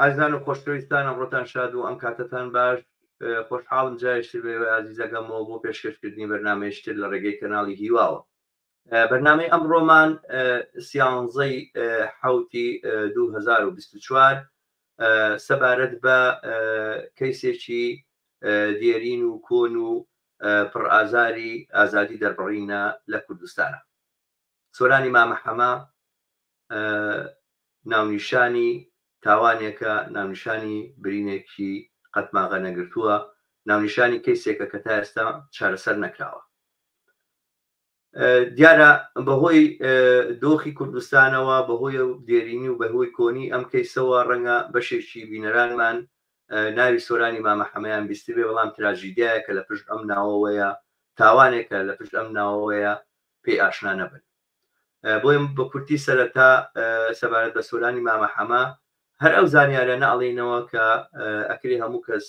ئازیزان و خۆشەویستان ئەمڕۆتان شاد و ئەم کاتەتان باش خۆشحاڵم جایشتر بەێوە ئازیزەکەمەوە بۆ پێشکەشکردنی بەرنمەیشتر لە ڕێگەی کەناڵی هیواوە بەرنمەی ئەم ڕۆمان سیانزەی حوتی 2024 سەبارەت بە کەیسێکی دێرین و کۆن و پڕئازاری ئازادی دەربڕینە لە کوردستانە سۆرانی مامە حەمە ناونیشانی تاوانێکە، ناونیشانی برینێکی قەتماغە نەگرتووە، ناونیشانی کەیسێکە کە تا ئێستا چارەسەر نەکراوە. دیارە بەهۆی دۆخی کوردستانەوە بەهۆی و دێرینی و بەهۆی کۆنی ئەم کەیسەوە ڕەنگە بەشێکی بینەرانمان ناوی سۆرانی مامەحەمەیان بیستبێ بەڵام تراژیدایە کە لە پشت ئەم ناوەوەیە تاوانێکە لە پشت ئەم ناوەوەیە پێی ئاشنا نەبن بۆیە بە کورتی سەرەتا سەبارەت بە سۆرانی مامە حەمە هەر ئەو زانیارە ناڵینەوە کە ئەکری هەموو کەس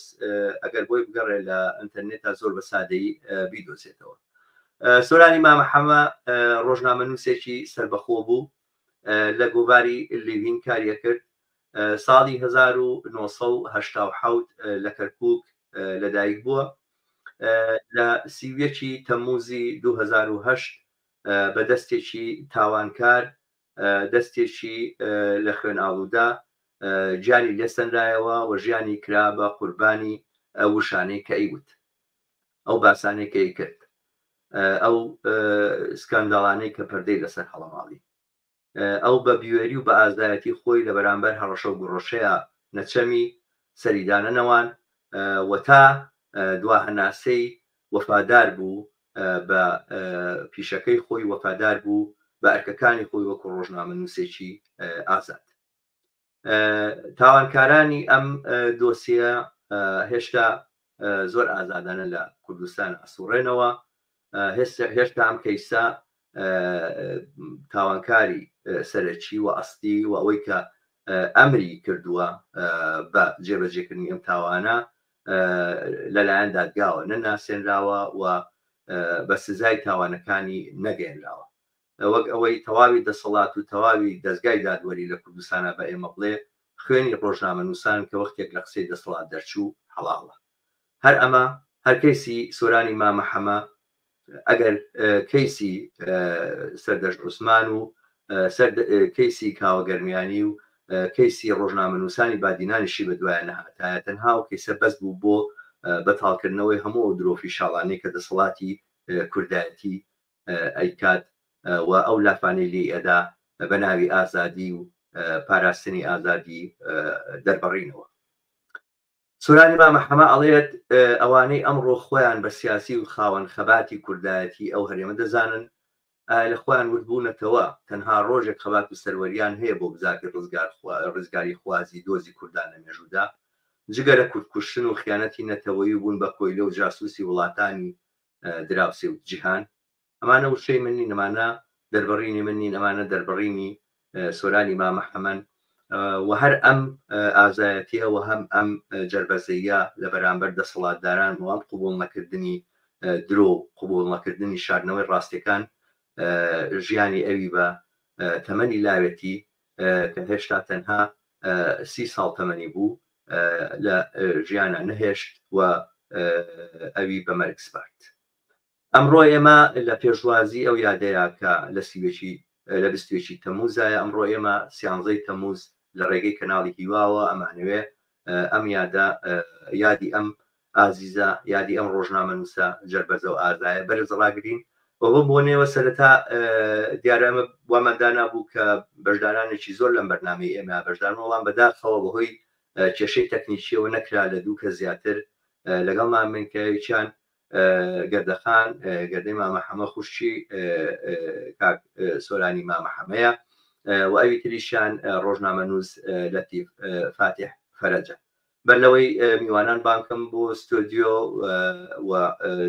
ئەگەر بۆی بگەڕێ لە ئەتەرنێتا زۆر بە سادەی بیدۆزێتەوە سۆرانی مامە حەمە ڕۆژنامە نووسێکی سربەخۆ بوو لە گۆڤاری لیڤین کاری ئەکرد، ساڵی هەزار و نۆ سەد و هەشتا و حەوت لە کەرکووک لەدایک بووە، لە سی و یەک ی تەممووزی دوو هەزار و هەشت بە دەستێکی تاوانکار، دەستێکی لە خوێنئاڵوودە گیانی لێسەنرایەوە و ژیانی کرا بە قوربانی ئەو وشانەی کە ئەیوت. ئەو باسانەی کەی کرد ئەو سکانداڵانەی کە پەردەی لەسەر هەڵەماڵی ئەو بە بوێری و بە ئازایەتی خۆی لە بەرامبەر هەڕەشە و گوڕەشەیە نەچەمی سەریدانە نەوان و تا دوا هەناسەی وەفادار بوو بە پیشەکەی خۆی وەفادار بوو بە ئەرکەکانی خۆی وەکو ڕۆژنامە نووسێکی ئازاد تاوانکارانی ئەم دۆسیە هێشتا زۆر ئازادانە لە کوردستان ئەسوڕێنەوە هێشتا ئەم کەیسە تاوانکاری سەرەکی و ئەستی و ئەوەی کە ئەمری کردووە بە جێبەجێکردنی ئەم تاوانە لەلایەن دادگاوە نەناسێنراوە و بە سزای تاوانەکانی نەگەێنراوە وەک ئەوەی تەواوی دەسەڵات و تەواوی دەزگای دادوەری لە کوردستانا بە ئێمە بڵێ خوێنی ڕۆژنامەنووسان کە وەختێک لە قسەی دەسەڵات دەرچوو حەڵاڵە. هەر ئەمە هەر کەیسی سۆرانی مامە حەمە ئەگەر کەیسی سەردەشت عوسمان و سەر کەیسی کاوە گەرمیانی و کەیسی ڕۆژنامەنووسانی بادینانیشی بە دوایە نەهاتایە تەنها و کەیسە بەس بوو بۆ بەتاڵکردنەوەی هەموو ئەو درۆفی شاڵانەی کە دەسەڵاتی کوردایەتی ئەیکات و ئەو لافانەی لێی ئەدا بە ناوی ئازادی و پاراستنی ئازادی دەربڕینەوە. سورانی مامە حەمە ئەڵێت ئەوانەی ئەمڕۆ خۆیان بە سیاسی و خاوەن خەباتی کوردایەتی ئەو هەرێمە دەزانن لە خۆیان وردبوونەتەوە تەنها ڕۆژێک خەبات و سەروەریان هەیە بۆ بزاتی ڕزگار ڕزگاری خوازی دۆزی کوردان لە مێژوودا جگە لە کوردکوشتن و خیانەتی نەتەوەی و بوون بە کۆیلە و جاسوسی وڵاتانی دراوسێ و جیهان ئەمانە وشەی من نین ئەمانە دەربڕینی من نین ئەمانە دەربڕینی سۆرانی مامەحەمەن و هەر ئەم ئازایەتیە و هەم ئەم جربەزەیە لە بەرامبەر دەسەڵاتداران و ئەم قوبول نەکردنی درۆ قوبول نەکردنی شاردنەوەی ڕاستەکان ژیانی ئەوی بە تەمەنی لاوێتی کە هێشتا تەنها سی ساڵ تەمەنی بوو لە ژیانا نەهێشت و ئەوی بە مەرگ سپارد. ئەمڕۆ ئێمە لە پێشوازی ئەو یادەیە کە لە سی و یەکی لە بیست و یەکی تەمووزایە، ئەمڕۆ ئێمە سیانزەی تەمووز لە ڕێگەی کەناڵی هیواوە ئەمانەوێ ئەم یادە یادی ئەم ئازیزە یادی ئەم ڕۆژنامەنووسە جەربەزە و ئازایە بەرز ڕاگرین بە بەم بۆنەوە سەرەتا دیارە ئەمە وامان دانابوو کە بەشدارانێکی زۆر لەم بەرنمەی ئێمە بەشدارن وەڵام بەداخەوە بەهۆی کێشەی تەکنیکیەوە نەکرا لە دوو کە زیاتر لەگەڵ مامنکەوێکیان گردەخان گردەی مامە حەمە خوشکی کاک سۆرانی مامە حەمەیە و ئەوی تریشیان ڕۆژنامەنووس لەتیف فاتیح فەرەجە بەر لەوەی میوانان بانکم بۆ ستۆدیۆ و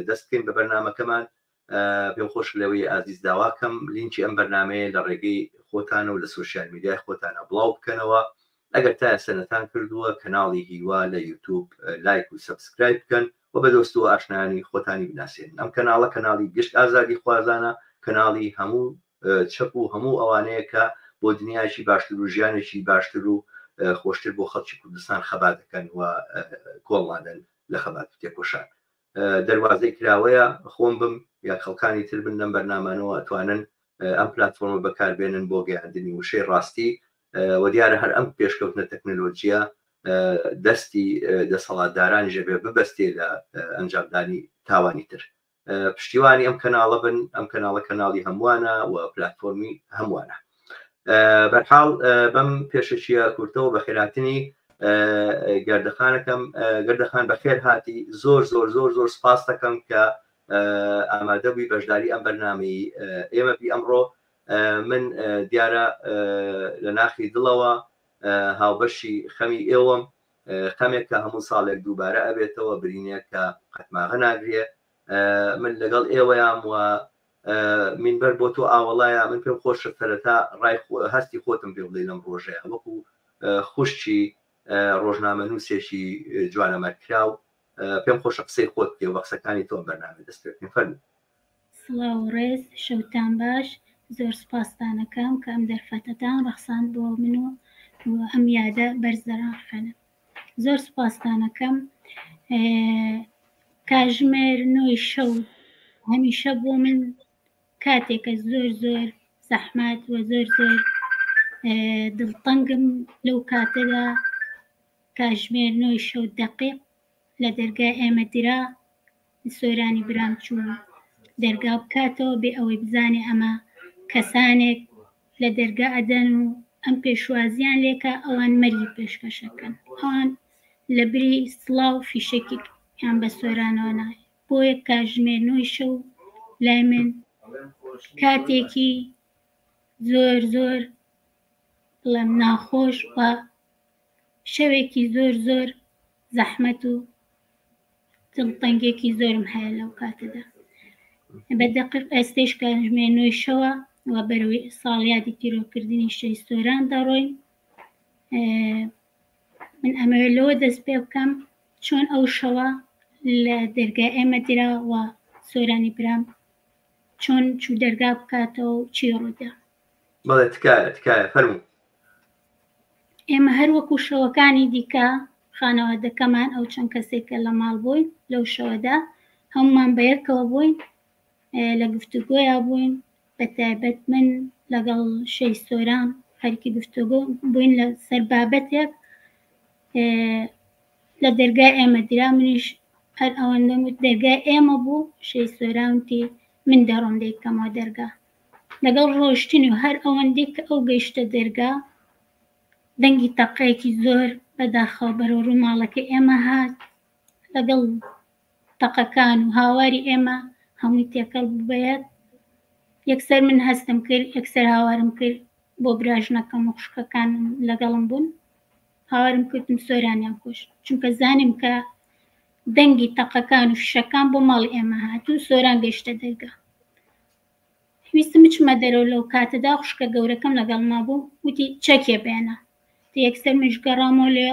دەست بکەین بە بەرنمەکەمان پێم خۆش لەوەی ئازیز داواکەم لینکی ئەم بەرنمەیە لە ڕێگەی خۆتانە و لە سوسیال میدیای خۆتانە بڵاو بکەنەوە ئەگەر تا سەرەتان کردووە کەناڵی هیوا لە یوتوب لایک و سبسکرایب بکەن و بە دۆست و ئاشنایانی خۆتانی بناسێنن ئەم کەناڵە کەناڵی گشت ئازادی خوازانە کەناڵی هەموو چەپ و هەموو ئەوانەیە کە بۆ دنیایەکی باشتر و ژیانێکی باشتر و خۆشتر بۆ خەڵکی کوردستان خەبات دەکەن و کۆڵ نادەن لە خەبات و تێکۆشان دەروازەی کراوەیە خۆم بم یا خەڵکانی تر بن لەم بەرنامانەوە ئەتوانن ئەم پلتفۆرمە بەکاربێنن بۆ گەیاندنی وشەی ڕاستی وە دیارە هەر ئەم پێشکەوتنە تەکنەلۆجیە دەستی دەسەڵاتدارانیشە بێ ببەستێ لە ئەنجامدانی تاوانی تر پشتیوانی ئەم کەناڵە بن ئەم کەناڵە کەناڵی هەمووانە و پلتفۆرمی هەمووانە بەرحاڵ بەم پێشەچیە کورتەوە بە خێراتنی گردەخانەکەم گردەخان بە خێر هاتی زۆر زۆر زۆر زۆر سپاس دەکەم کە ئامادە بووی بەشداری ئەم بەرنمەی ئێمە بی ئەمڕۆ من دیارە لە ناخی دڵەوە هاوبەشی خەمی ئێوەم خەمێک کە هەموو ساڵێک دووبارە ئەبێتەوە برینێک کە قەتماغە ناگرێ من لەگەڵ ئێوەیان وە منبەر بۆ تۆ ئاوەڵایە من پێم خۆشە سەرەتا ڕای هەستی خۆتم پێ بڵێ لەم ڕۆژەیە وەکو خوشتی ڕۆژنامە نووسێکی جوانەمەرکراو پێم خۆشە قسەی خۆت پێ وە قسەکانی تۆ بەرنامە دەست پێ فەرمو سڵاو و ڕێز، شەوتان باش، زۆر سوپاستانەکەم کە ئەم دەرفەتەتان ڕەخساند بۆ من و ئەم یادە بەرزە ڕاحەنە. زۆر سوپاستانەکەم. کاژمێر نۆی شەو هەمیشە بۆ من کاتێکە زۆر زۆر زەحمەت و زۆر زۆر دڵتەنگم لەو کاتەدا کاژمێر نۆی شەو دەقیق لە دەرگای ئێمە درا، سۆرانی برام چوو دەرگا بکاتەوە بێ ئەوەی بزانێ ئەمە کەسانێک لە دەرگا ئەدەن و ئەم پێشوازیان لێکە ئەوان مەرگی پێشکەشەکەن ئەوان لە بری سڵاو فیشەکێک یان بە سۆرانەوە نایە بۆیە کاژمێر نۆی شەو لای من کاتێکی زۆر زۆر بڵێم ناخۆش و شەوێکی زۆر زۆر زەحمەت و دڵتەنگێکی زۆرم هەیە لەو کاتەدا بە دقیق ئێستش کاتژمێ نوێی شەوە و بەرەوەی ساڵیادی تیرۆکردنی شەی سۆران دەڕۆین من ئەمەوێ لەوە دەست پێ بکەم چۆن ئەو شەوە لە دەرگا ئێمە دراوە سۆرانی برام چۆن چوو دەرگا بکاتەوە چی ڕوودا بەڵێ تکایە تکایە فەرموو ئێمە هەر وەکو شەوەکانی دیکە خانەوادەکەمان ئەو چەند کەسێکە لە ماڵ بووین لەو شەوەدا هەمومان بەیەکەوە بووین لە گفتوگۆیا بووین بە تایبەت من لەگەڵ شەی سۆران خەرکی گفتوگۆ بووین لە سەر بابەتێک لە دەرگای ئێمە درا منیش هەر ئەوەندەم وت دەرگای ئێمە بوو شەی سۆرانتی من دەڕۆم دەیکەمەوە دەرگا لەگەڵ ڕۆشتنی و هەر ئەوەندەی کە ئەو گەیشتە دەرگا، دەنگی تەقەیەکی زۆر بە داخەوە بەرەو ڕووی ماڵەکەی ئێمە هات، لەگەڵ تەقەکان و هاواری ئێمە هەمووی تێکەڵ بوو بە یەک، یەکسەر من هەستم کرد، یەکسەر هاوارم کرد بۆ براژنەکەم و خوشکەکانم لەگەڵم بوون، هاوارم کردم سۆرانیان کوشت، چونکە زانیم کە دەنگی تەقەکان و فشەکان بۆ ماڵی ئێمە هات و سۆران گەیشتە دەرگا. ویستم بچمە دەرەوە، لەو کاتەدا خوشکە گەورەکەم لەگەڵما بوو، وتی، چەکێ بێنە. دە یەکسەر منیش گەڕامەوە لێ،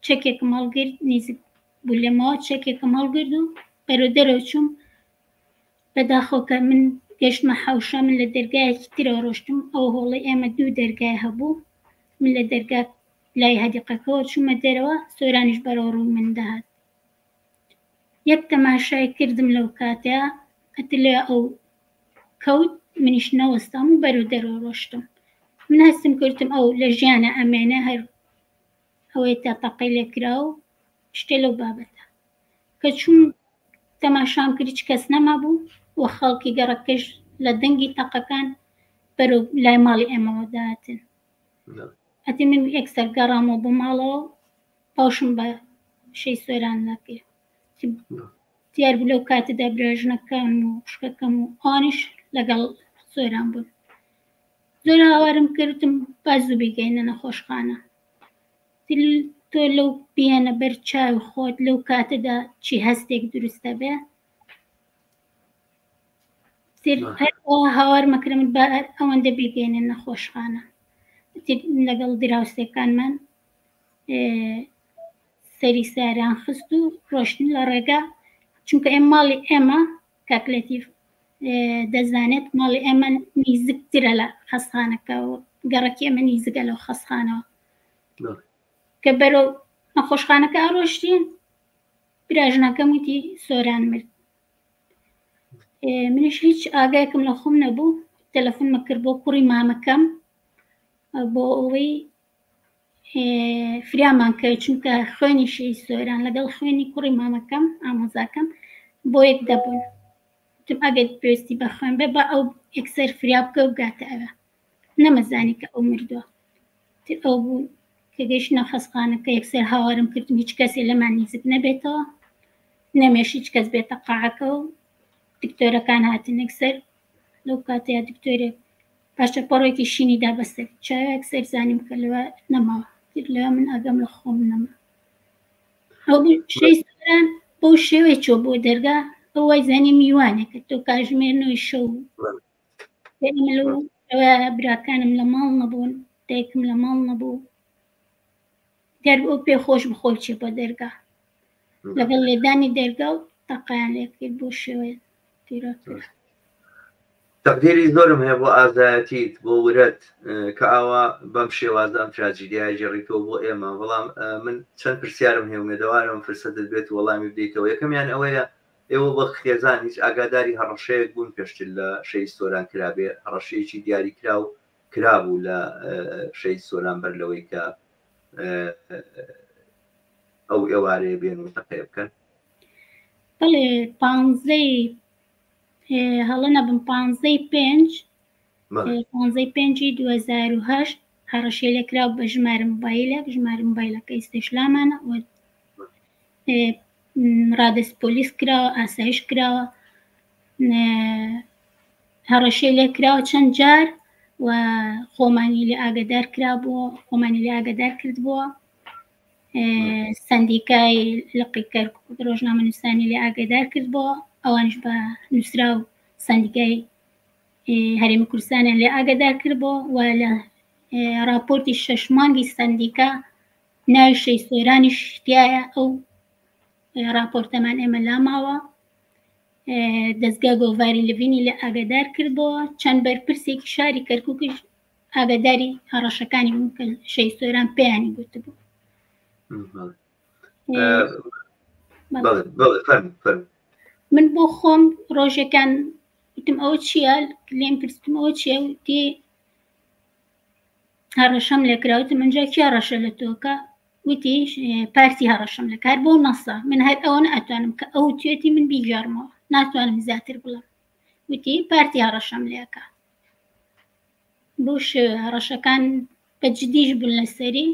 چەکێکم هەڵگرت، نیزیک بوو لێمەوە، چەکێکم هەڵگرت و بەرەو دەرەوە چووم، بە داخەوە کە من گەشتمە حەوشە، من لە دەرگایەکی ترەوە ڕۆشتم، ئەو هۆڵەی ئێمە دوو دەرگای هەبوو، من لە دەرگا لای هەدیقەکەوە چوومە دەرەوە، سۆرانیش بەرەوڕووی من دەهات. یەک تەماشای کردم لەو کاتە قتلە ئەو کەوت منیش نەوەستام و بەرو دەرەوە ڕۆشتم من هەستم کردم ئەو لە ژیانە ئەمێنە هەر ئەوەی تا تەقەی لێکرا و شتێ لەو بابەتە کە چوون تەماشام کرد هیچ کەس نەمابوو و خەڵکی گەڕەکەش لە دەنگی تەقەکان بەرەو لای ماڵی ئێمەوە داتن ئەتی من ئێکسەر گەڕامەوە بۆ ماڵەوە باوشم بە شەی سۆران ناپیر دیار بوو لەو کاتەدا براژنەکان و خوشکەکەم و ئانیش لەگەڵ سۆران بوون زۆر هاوارم کردم باز و بیگەینە نەخۆشخانە تۆ لەو بیانە بەر چاو خۆت لەو کاتەدا چی هەستێک دروستە بێ هاوار مەکرم بە ئەوەندە بیگەینە نەخۆشخانە لەگەڵ دراوسێکانمان سەری ساریان خست و ڕۆشتن لە ڕێگا چونکە ئێم ماڵی ئێمە کاکلەتیف دەزانێت ماڵی ئێمە نیزگترە لە خەستخانەکە و گەڕکی ئەمە نیزگە لەو خەستخانەوە کە بەرەو نەخۆشخانەکە ئەڕۆشتین براژنەکەم وتی سۆران مرد منش هیچ ئاگایکم لە خۆم نەبوو تەلەفۆنمە کرد بۆ کوڕی مامەکەم بۆ ئەوەی فریامان کەوی چونکە خوێنی شی سۆران لەگەڵ خوێنی کوڕی مامەکەم ئامۆزاکەم بۆ یەک دەبوون تم ئەگەر پێویستی بە خوێن بێ بە ئەو یەکسەر فریا بکە و بگاتە ئەوە نەمەزانی کە ئەو مردووە ئەو بوو کە گەشتە خەسخانەکە یەکسەر هاوارم کردم هیچ کەسێ لەمان نزیک نەبێتەوە نەمێش هیچ کەس بێتە قاعەکە و دکتۆرەکان هاتن یەکسەر لەو کاتەیە دکتۆرێک پارچە پەڕۆکی شینی دا بە سەری. چاوێک سەیر زانی بکە لەوێ نەماوە. تیر لەوێ من ئاگام لە خۆم نەما. ئەو شەی سۆران بەو شێوەی چۆ بۆ دەرگا ئەو وای زانی میوانێکە تۆ کاژمێر نوێی شەو براکانم لە ماڵ نەبوون دایکم لە ماڵ نەبوو گەر ئەو پێ خۆش بوو خۆی چوو بۆ دەرگا لەگەڵ لێدانی دەرگا و تەقەیان لێ کرد بۆ شێوەیە تیرۆتر. تەقدیری زۆرم هەیە بۆ ئازایەتیت بۆ ورەت کە ئاوا بەم شێوازە ئەم تراجیدیای گێڕیتەوە بۆ ئێمە بەڵام من چەند پرسیارم هەیە مێدەوارم فرسەتت بێت وەڵامی بدەیتەوە یەکەمیان ئەوەیە ئێوە بە خێزان هیچ ئاگاداری هەڕەشەیەک بوون پێشتر لە شەی سۆران کرابێ هەڕەشەیەکی دیاری کرا و کرابوو لە شەی سۆران بەر لەوەی کە ئەو ئێوارەیە بێن و تەقەیە بکەن بەڵێ پانزەی هەڵە نەبم پانزەی پێنج پانزەی پێنجی 2010 هەڕەشێ لێکرا بە ژمارە موبایلێک ژمارە موبایلەکە ئیسێشلامانە ڕادست پۆلیس کراوە ئاسایش کراوە هەڕەشەی لێ کراوە چەند جار و خۆمانی لێ ئاگدار کرا بۆ خۆمانی لێ ئاگدار کرد بۆ سندیکای لقیکەر ڕۆژنامە نووسانی لێ ئاگدار کرد بۆ ئەوانش بە نووسرا و سندیکای هەرێمی کوردستانیان لێ ئاگدار کرد بۆ و لە راپۆرتی شەش مانگی سندیکا ناوی شەی سۆرانیش تایە ئەو راپۆرتەمان ئێمە لاماوە دەزگا گۆڤاری لڤینی لە ئاگادار کردەوە چەند بەرپرسێکی شاری کەرکوکش ئاگاداری هەڕەشەکانی بوون کە شەی سۆران پێیانی گوتبوو من بۆ خۆم ڕۆژەکان وتم ئەوە چییە لێم پرسم ئەوە چیە وتی هەڕەشەم لێکراوت من جا کیا ڕەشە لە تۆکە وتی پارتی هەڕەشەم لە کار بۆ نەسا من هەر ئەوە ناتوانم کە ئەو توێتی من بیگەڕمەوە ناتوانم زیاتر بڵم وتی پارتی هەڕەشەم لەکە بۆش هەڕەشەکان بە جدیش بوون لەسەری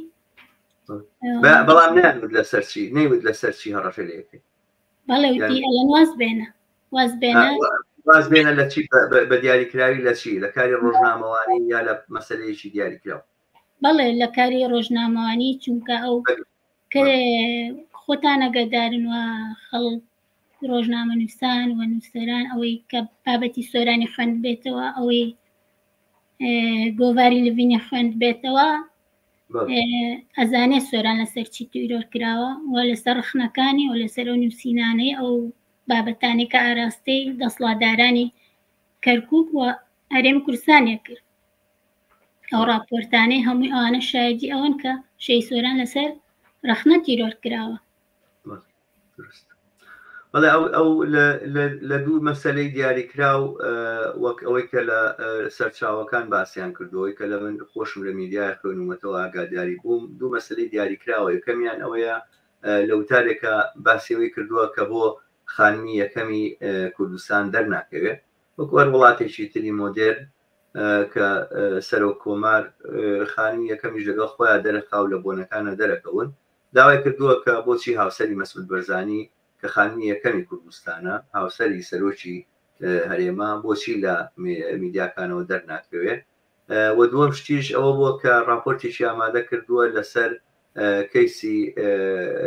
بەڵام نەوت لەسەرچی نەیوت لەسەرچی هەڕەشە لەکەی بەڵێ وتی ئەلەند واز بێنە واز بێنە واز بێنە لە چی بە- بە- بە دیاریکراوی لە چی لە کاری ڕۆژنامەوانی یا لە مەسلەیەکی دیاریکراو بەڵێ لە کاری ڕۆژنامەوانی چونکە ئەو بەگە- کە خۆتان ئەگەدارن و خەڵک ڕۆژنامە نووسان و نووسەران ئەوەی کە بابەتی سۆرانی خوێند بێتەوە ئەوەی گۆڤاری لڤینی خوێند بێتەوە ئەزانێ سۆران لەسەر چی تیرۆر کراوە و لەسەر ڕخنەکانی و لەسەر ئەو نووسینانەی ئەو بابەتانی کە ئاراستەی دەسڵاتدارانی کەرکک و هەرێم کورسانێک کرد ئەو راپۆرتانەی هەمووی ئەوانە شایدی ئەوەن کە شەی سۆران لەسەر ڕخنە تیرۆر کراوە دروست بەڵێ ئەو ئەو لە دوو مەسەلەی دیاریکراو وەک ئەوەی کە لە سەرچاوەکان باسییان کردەوەی کە لە من خۆشم لە میدیای خوێنومەتەوە ئاگاداری بووم دوو مەسلەی دیاریکراوە یەکەمیان ئەوەیە لە وتارێکە باسیەوەی کردووە کە بۆ خانمی یەکەمی کوردستان دەرناکەوێت وەکوەر وڵاتێکی تری مۆدێر کە سەرۆک کۆمار خانمی یەکەمیش لەگەڵ خۆیان دەرەخاو لە بۆنەکانە دەرەکەون داوای کردووە کە بۆچی هاوسەری مەسعود بەرزانی کە خانمی یەکەمی کوردستانە، هاوسەری سەرۆکی هەرێمە بۆچی لە میدیاکانەوە دەرناکەوێ و دووەم شتیش ئەوە بووە کە ڕاپۆرتێکی ئامادە کردووە لەسەر کەیسی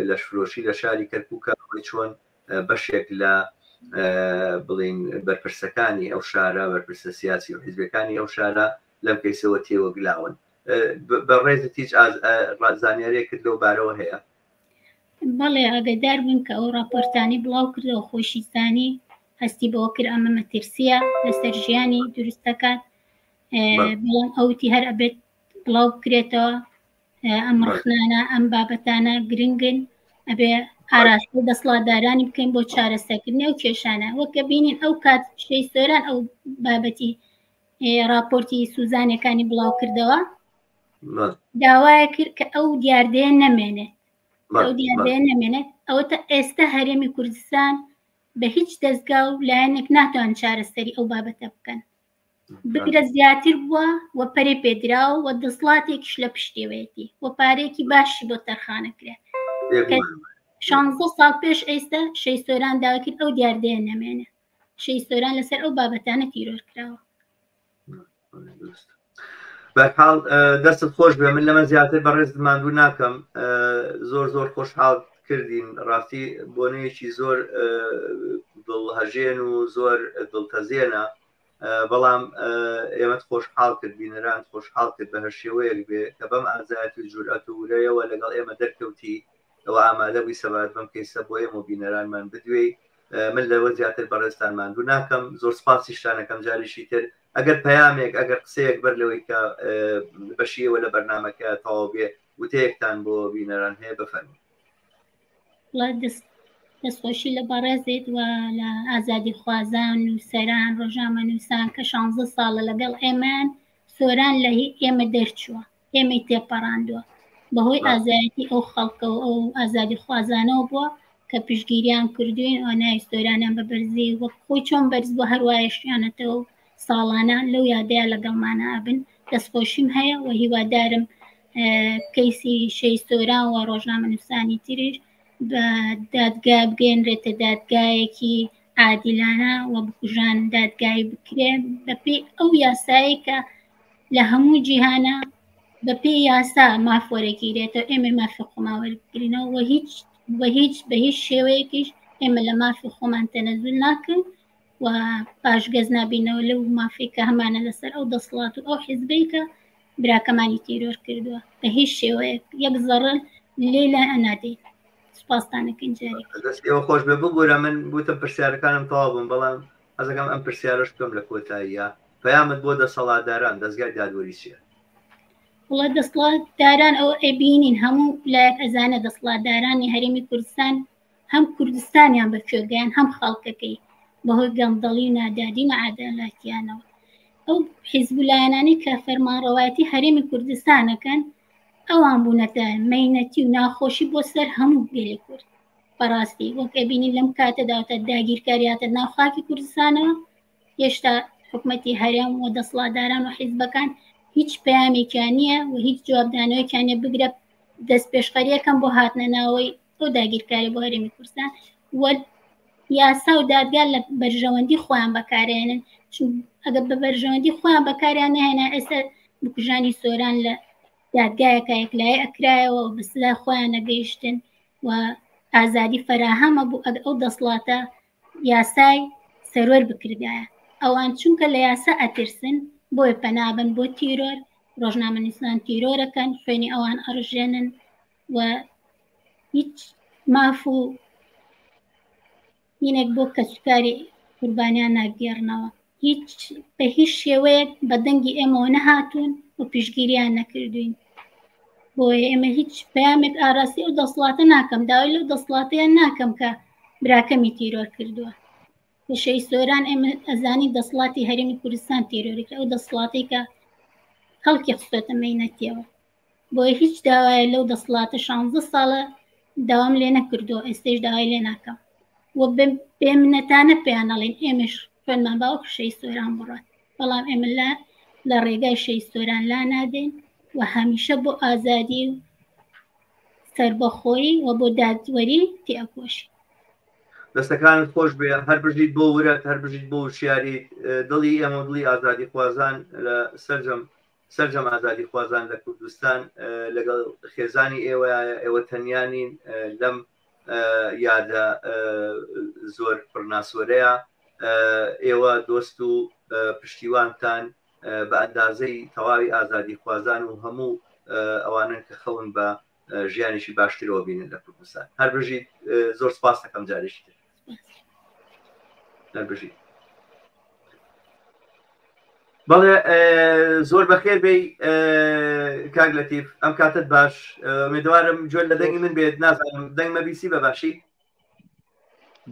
لەشفرۆشی لە شاری کەرکووک ئەوەی چۆن بەشێک لە بڵین بەرپرسەکانی ئەو شارە بەرپرسە سیاسی و حیزبەکانی ئەو شارە لەم کەیسەوە تێوەگلاون بەڕێزت هیچ زانیارێکت لەو بارەوە هەیە بەڵێ ئاگدار بوون کە ئەو راپۆرتانی بڵاو کردەوە خۆشیستانی هەستی بەوە کرد ئەمە مەترسیە لەسەر ژیانی دروستەکان بڵام ئەوتی هەر ئەبێت بڵاو بکرێتەوە ئەم ڕخنانە ئەم بابەتانە گرنگن ئەبێ ئاراست و دەسڵاتدارانی بکەین بۆ چارەسەکردنی و کێشانە وەکە بینین ئەو کات شەی سۆران ئەو بابەتی ڕاپۆرتی سوزانەکانی بڵاوکردەوە داوایە کرد کە ئەو دیاردەیە نەمێنێت ئەو دیاردەیە نەمێنێت ئەوە تا ئێستا هەرێمی کوردستان بە هیچ دەستگا و لایەنێک ناتوان چارەسەری ئەو بابەتە بکەن بگرە زیاتر بووە و پەرێ پێدراو و دەسڵاتێکیش لە پشتێوەیەتی و پارێکی باشی بۆ تەرخانەکرێت شانزە ساڵ پێش ئێستا شەی سۆران داکرد ئەو دیاردەیە نەمێنێت شەهید سۆران لەسەر ئەو بابەتانە تیرۆر کراوە بەحاڵ دەستت خۆش بێ من لەمە زیاتر بەڕێز ماندوو ناکەم زۆر زۆر خۆشحاڵ کردین ڕاستی بۆنەیەکی زۆر دڵهژێن و زۆر دڵتەزێنە بەڵام ئێمە خۆشحاڵ کرد بینەران خۆشحاڵ کرد بە هەر شێوەیەک بێ کە بەم ئازایەت و جورئەت و ورەیەوە لەگەڵ ئێمە دەرکەوتی ئەوە ئامادە بووی سەبات بم کەیسە بۆ ئێمە بینەرانمان بدوێی من لەوە زیاتر بەڕێزتان ماندوو ناکەم زۆر سپاسیشتانەکەم جاریشی تر ئەگەر پەیامێک ئەگەر قسەیەک بەر لەوەی کە بەشیەوە لە بەرنمەکە تەواو بێ وتەیەکتان بۆ بینەران هەیە بفەرمو دەستخۆشی لە بەڕێزێت و لە ئازادی خوازان و سەران ڕۆژامە نووسان کە 16 ساڵە لەگەڵ ئێمان سۆران لە ئێمە دەرچووە ئێمەی تێپەڕاندووە بەهۆی ئازایەتی ئەو خەڵکەوە ئەو ئازادی خوازانەوە بووە کە پشگیریان کردوین ئەو نایستۆرانیان بە بەرزی وەک خۆی چۆن بەرز بۆ هەروایشیانەتەوە ساڵانە لەو یادەیە لەگەڵمانە ئەبن دەستخۆشیم هەیە و هیوادارم کەیسی شەیستۆران و ڕۆژنامە نووسانی تریش بە دادگا بگەێنرێتە دادگایەکی عادیلانە و بکوژان دادگای بکرێن بەپی ئەو یاسایی کە لە هەموو جیهانا بە پێی یاسا ماف وەرەگیرێتەوە ئێمە مافی خۆمان وەرگرینەوە و هیچ بە هیچ بە هیچ شێوەیەکیش ئێمە لە مافی خۆمان تەنەزول ناکەن و پاشگەز نابینەوە لەو مافی کە هەمانە لەسەر ئەو دەسڵات و ئەو حیزبەی کە براکەمانی تیرۆر کردووە بە هیچ شێوەیەک یەک زەڕن لێ لە ئەنادەین سپاستانەکەین جارێک دەست ئێوە خۆش بێ ببوورە من بوتم پرسیارەکانم تەوا بووم بەڵام حەزەکەم ئەم پرسیارەشت بکەم لە کۆتاییا پەیامت بۆ دەسەڵاتداران دەزگای دادوەری چیە؟ وڵا دەسڵاتداران ئەو ئەبینین هەموو لایەک ئەزانە دەسڵاتدارانی هەرێمی کوردستان هەم کوردستانیان بە کوێگەیان هەم خەڵکەکەی بەهۆی گەمدەڵی و نادادی مەعادەلاتیانەوە ئەو حیزب لایەنانی کە فەرمانڕەوایەتی هەرێمی کوردستانەکەن ئەوان بوونەتە مینەتی و ناخۆشی بۆ سەر هەموو گەلی کورد بەڕاستی وەک ئەبینی لەم کاتەداوتە داگیرکاریاتە ناوخاکی کوردستانەوە هێشتا حکوومەتتی هەرێم و دەسڵاتداران و حیزبەکان هیچ پامێکیان نییە و هیچ جوابدانەوەکیانە بگرە دەست پێشخەریەکەم بۆ هاتنە ناوەی تۆ داگیرکاری بۆ هەرێمی کوردستان وەرد یاسا و دادگا لە بەرژەوەندی خۆیان بەکارێنن ئەگەر بە بەرژەوەندی خۆیان بەکاریان نهێنا ئێستا بکوژانی سۆران لە دادگایەکە یەکلای ئەکرایەوە بەسلا خۆیان نەگەیشتن و ئازادی فەراهەمە بوو ئەگ ئەو دەسڵاتە یاسای سەروەر بکردایە ئەوان چونکە لە یاسا ئەترسن بۆی پەنابن بۆ تیرۆر ڕۆژنامە نیسان تیرۆرەکەن خوێنی ئەوان ئەڕژێنن و هیچ ماف و هینێک بۆ کەسوکاری قوربانیان ناگێڕنەوە، هیچ بە هیچ شێوەیەک بە دەنگی ئێمەوە نەهاتوون و پیشگیریان نەکردوین. بۆیە ئێمە هیچ پەیامێک ئاراسی ئەو دەسڵاتە ناکەم، داوای لەو دەسڵاتەیە ناکەم کە براکەمی تیرۆر کردووە. لە شەهید سۆران ئێمە ئەزانی دەسڵاتی هەرێمی کوردستان تیرۆری کرد، ئەو دەسڵاتەی کە خەڵکی خستۆتە مەینەتیەوە. بۆیە هیچ داوایە لەو دەسڵاتە شانزە ساڵە داوام لێ نەکردو ئێستش داوای لێ ناکەم و بێمنەتانە پێیانەڵین ئێمەش خوێنمان باوک شەی سۆران بڕات بەڵام ئێمە لە لە ڕێگای شەی سۆران لا نادەین و هەمیشە بۆ ئازادی و سربەخۆی و بۆ دادوەری تێکۆشی دەستەکان خۆش بێ هەر بژیت بۆ ورەت هەر بژیت بۆ شیاری دڵی ئێمە دڵی ئازادی خوازان لە سەررجەم سەرجەم ئازادیخوازان لە کوردستان لەگەڵ خێزانی ئێوەیە، ئێوە تەنیا نین لەم یادە زۆر پڕناسۆرەیە، ئێوە دۆست و پشتیوانتان بە ئەندازەی تەواوی ئازادیخوازان و هەموو ئەوانەن کە خەون بە ژیانێکی باشترەوە بینن لە کوردستان هەر بژیت زۆر سپاس دەکەم جارێکی تر هەر بژیت بەڵێ زۆر بەخێر بی کاک لەتیف ئەم کاتت باش مێدوارم جوێن لە دەنگی من بێت نازانم دەنگ مەبیسی بە باشی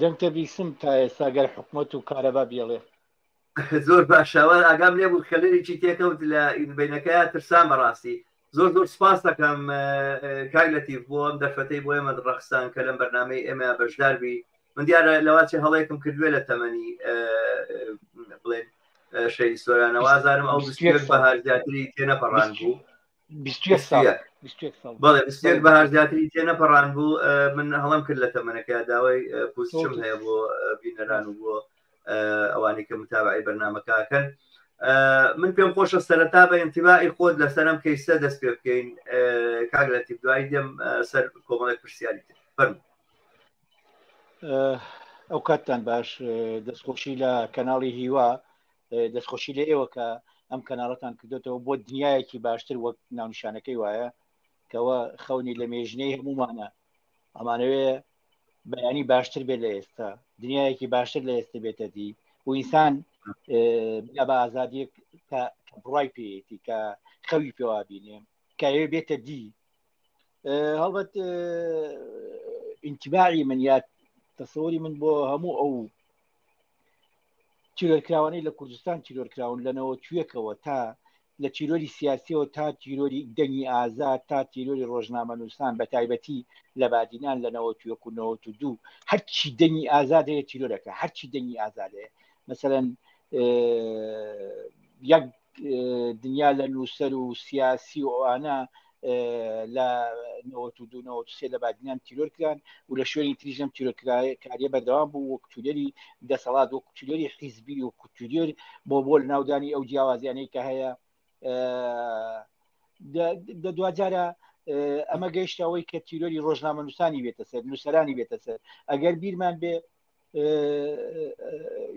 دەنگتە بیسم تا ئێستا گەر حکومت و کارەبا بێڵێ زۆر باش شاوار ئاگام لێ بوو خەلەرێکی تێکەوت لە ئیدبینەکە ترسان بەڕاستی زۆر زۆر سپاس دەکەم کاک لەتیف بۆ ئەم دەرفەتەی بۆ ئێمە ڕەخسان کە لەم بەرنمەی ئێمە بەشدار بی من دیارە لەواچی هەڵەیەکم کردوێ لە تەمەنی بڵێن شەی سۆرانەوازارم ئەو بەهار زیاتری تێنەپەڕان بوو بەهارزیاتری تێ نەپەڕان بوو من هەڵم کرد لە تەمەەکە داوای پوچم هەیە بۆ بینەران و بۆ ئەوانی کە متابعی بەرنمەکەکەن من پێم خۆشە سەرەتا بە ئەتیباعی خۆت لە سەرم کەیسە دەست پێ بکەین کاک لە تیب دوای دێم سەر کۆمەڵێک پرسیاری فەرم ئەو کاتتان باش دەستخۆشی لە کەناڵی هیوا دەستخۆشی لە ئێوە کە ئەم کەناڵەتان کردوێتەوە بۆ دنیایەکی باشتر وەک ناونشانەکەی وایە کەەوە خەونی لە مێژنەی هەمومانە ئەمانەوێ بەیانی باشتر بێت لە ئێستا دنیایەکی باشتر لە ئێستا بێتە دی و ئینسان بە ئازادیەک بڕای پێیەتی کە خەوی پێوا بینێ کاوێ بێتە دی هەڵبەت ئینتباری من یاد تەسەوری من بۆ هەموو ئەو تیرۆرکراوانەی لە کوردستان تیرۆرکراون لە نەوەکوێکەوە تا لە تیرۆری سیاسیەوە تا تیرۆری دەنگی ئازا تا تیرۆری ڕۆژنامە نووسان بە تایبەتی لە بادینان لە نەوەکوێک و نەوە و دوو هەرچی دەنگی ئازاد هەیە تیرۆرەکە هەرچی دەنگی ئازاد هەیە مثلەن یەک دنیا لە نووسەر و سیاسی و ئەوانە لە سێ لە بادنیان تیرۆر کران و لە شوێنی تریژم تیرۆکاریە بەردەوام بوو وەک تورێری دەسەڵات وەک کوتورێری حیزبی و کوتورێر بۆ بۆل ناودانی ئەو جیاوازیانەی کە هەیە دواجارە ئەمە گەیشتەوەی کە تیرۆری ڕۆژنامەنووسانی بێتە سەر نووسرانی بێتە سەر ئەگەر بیرمان بێ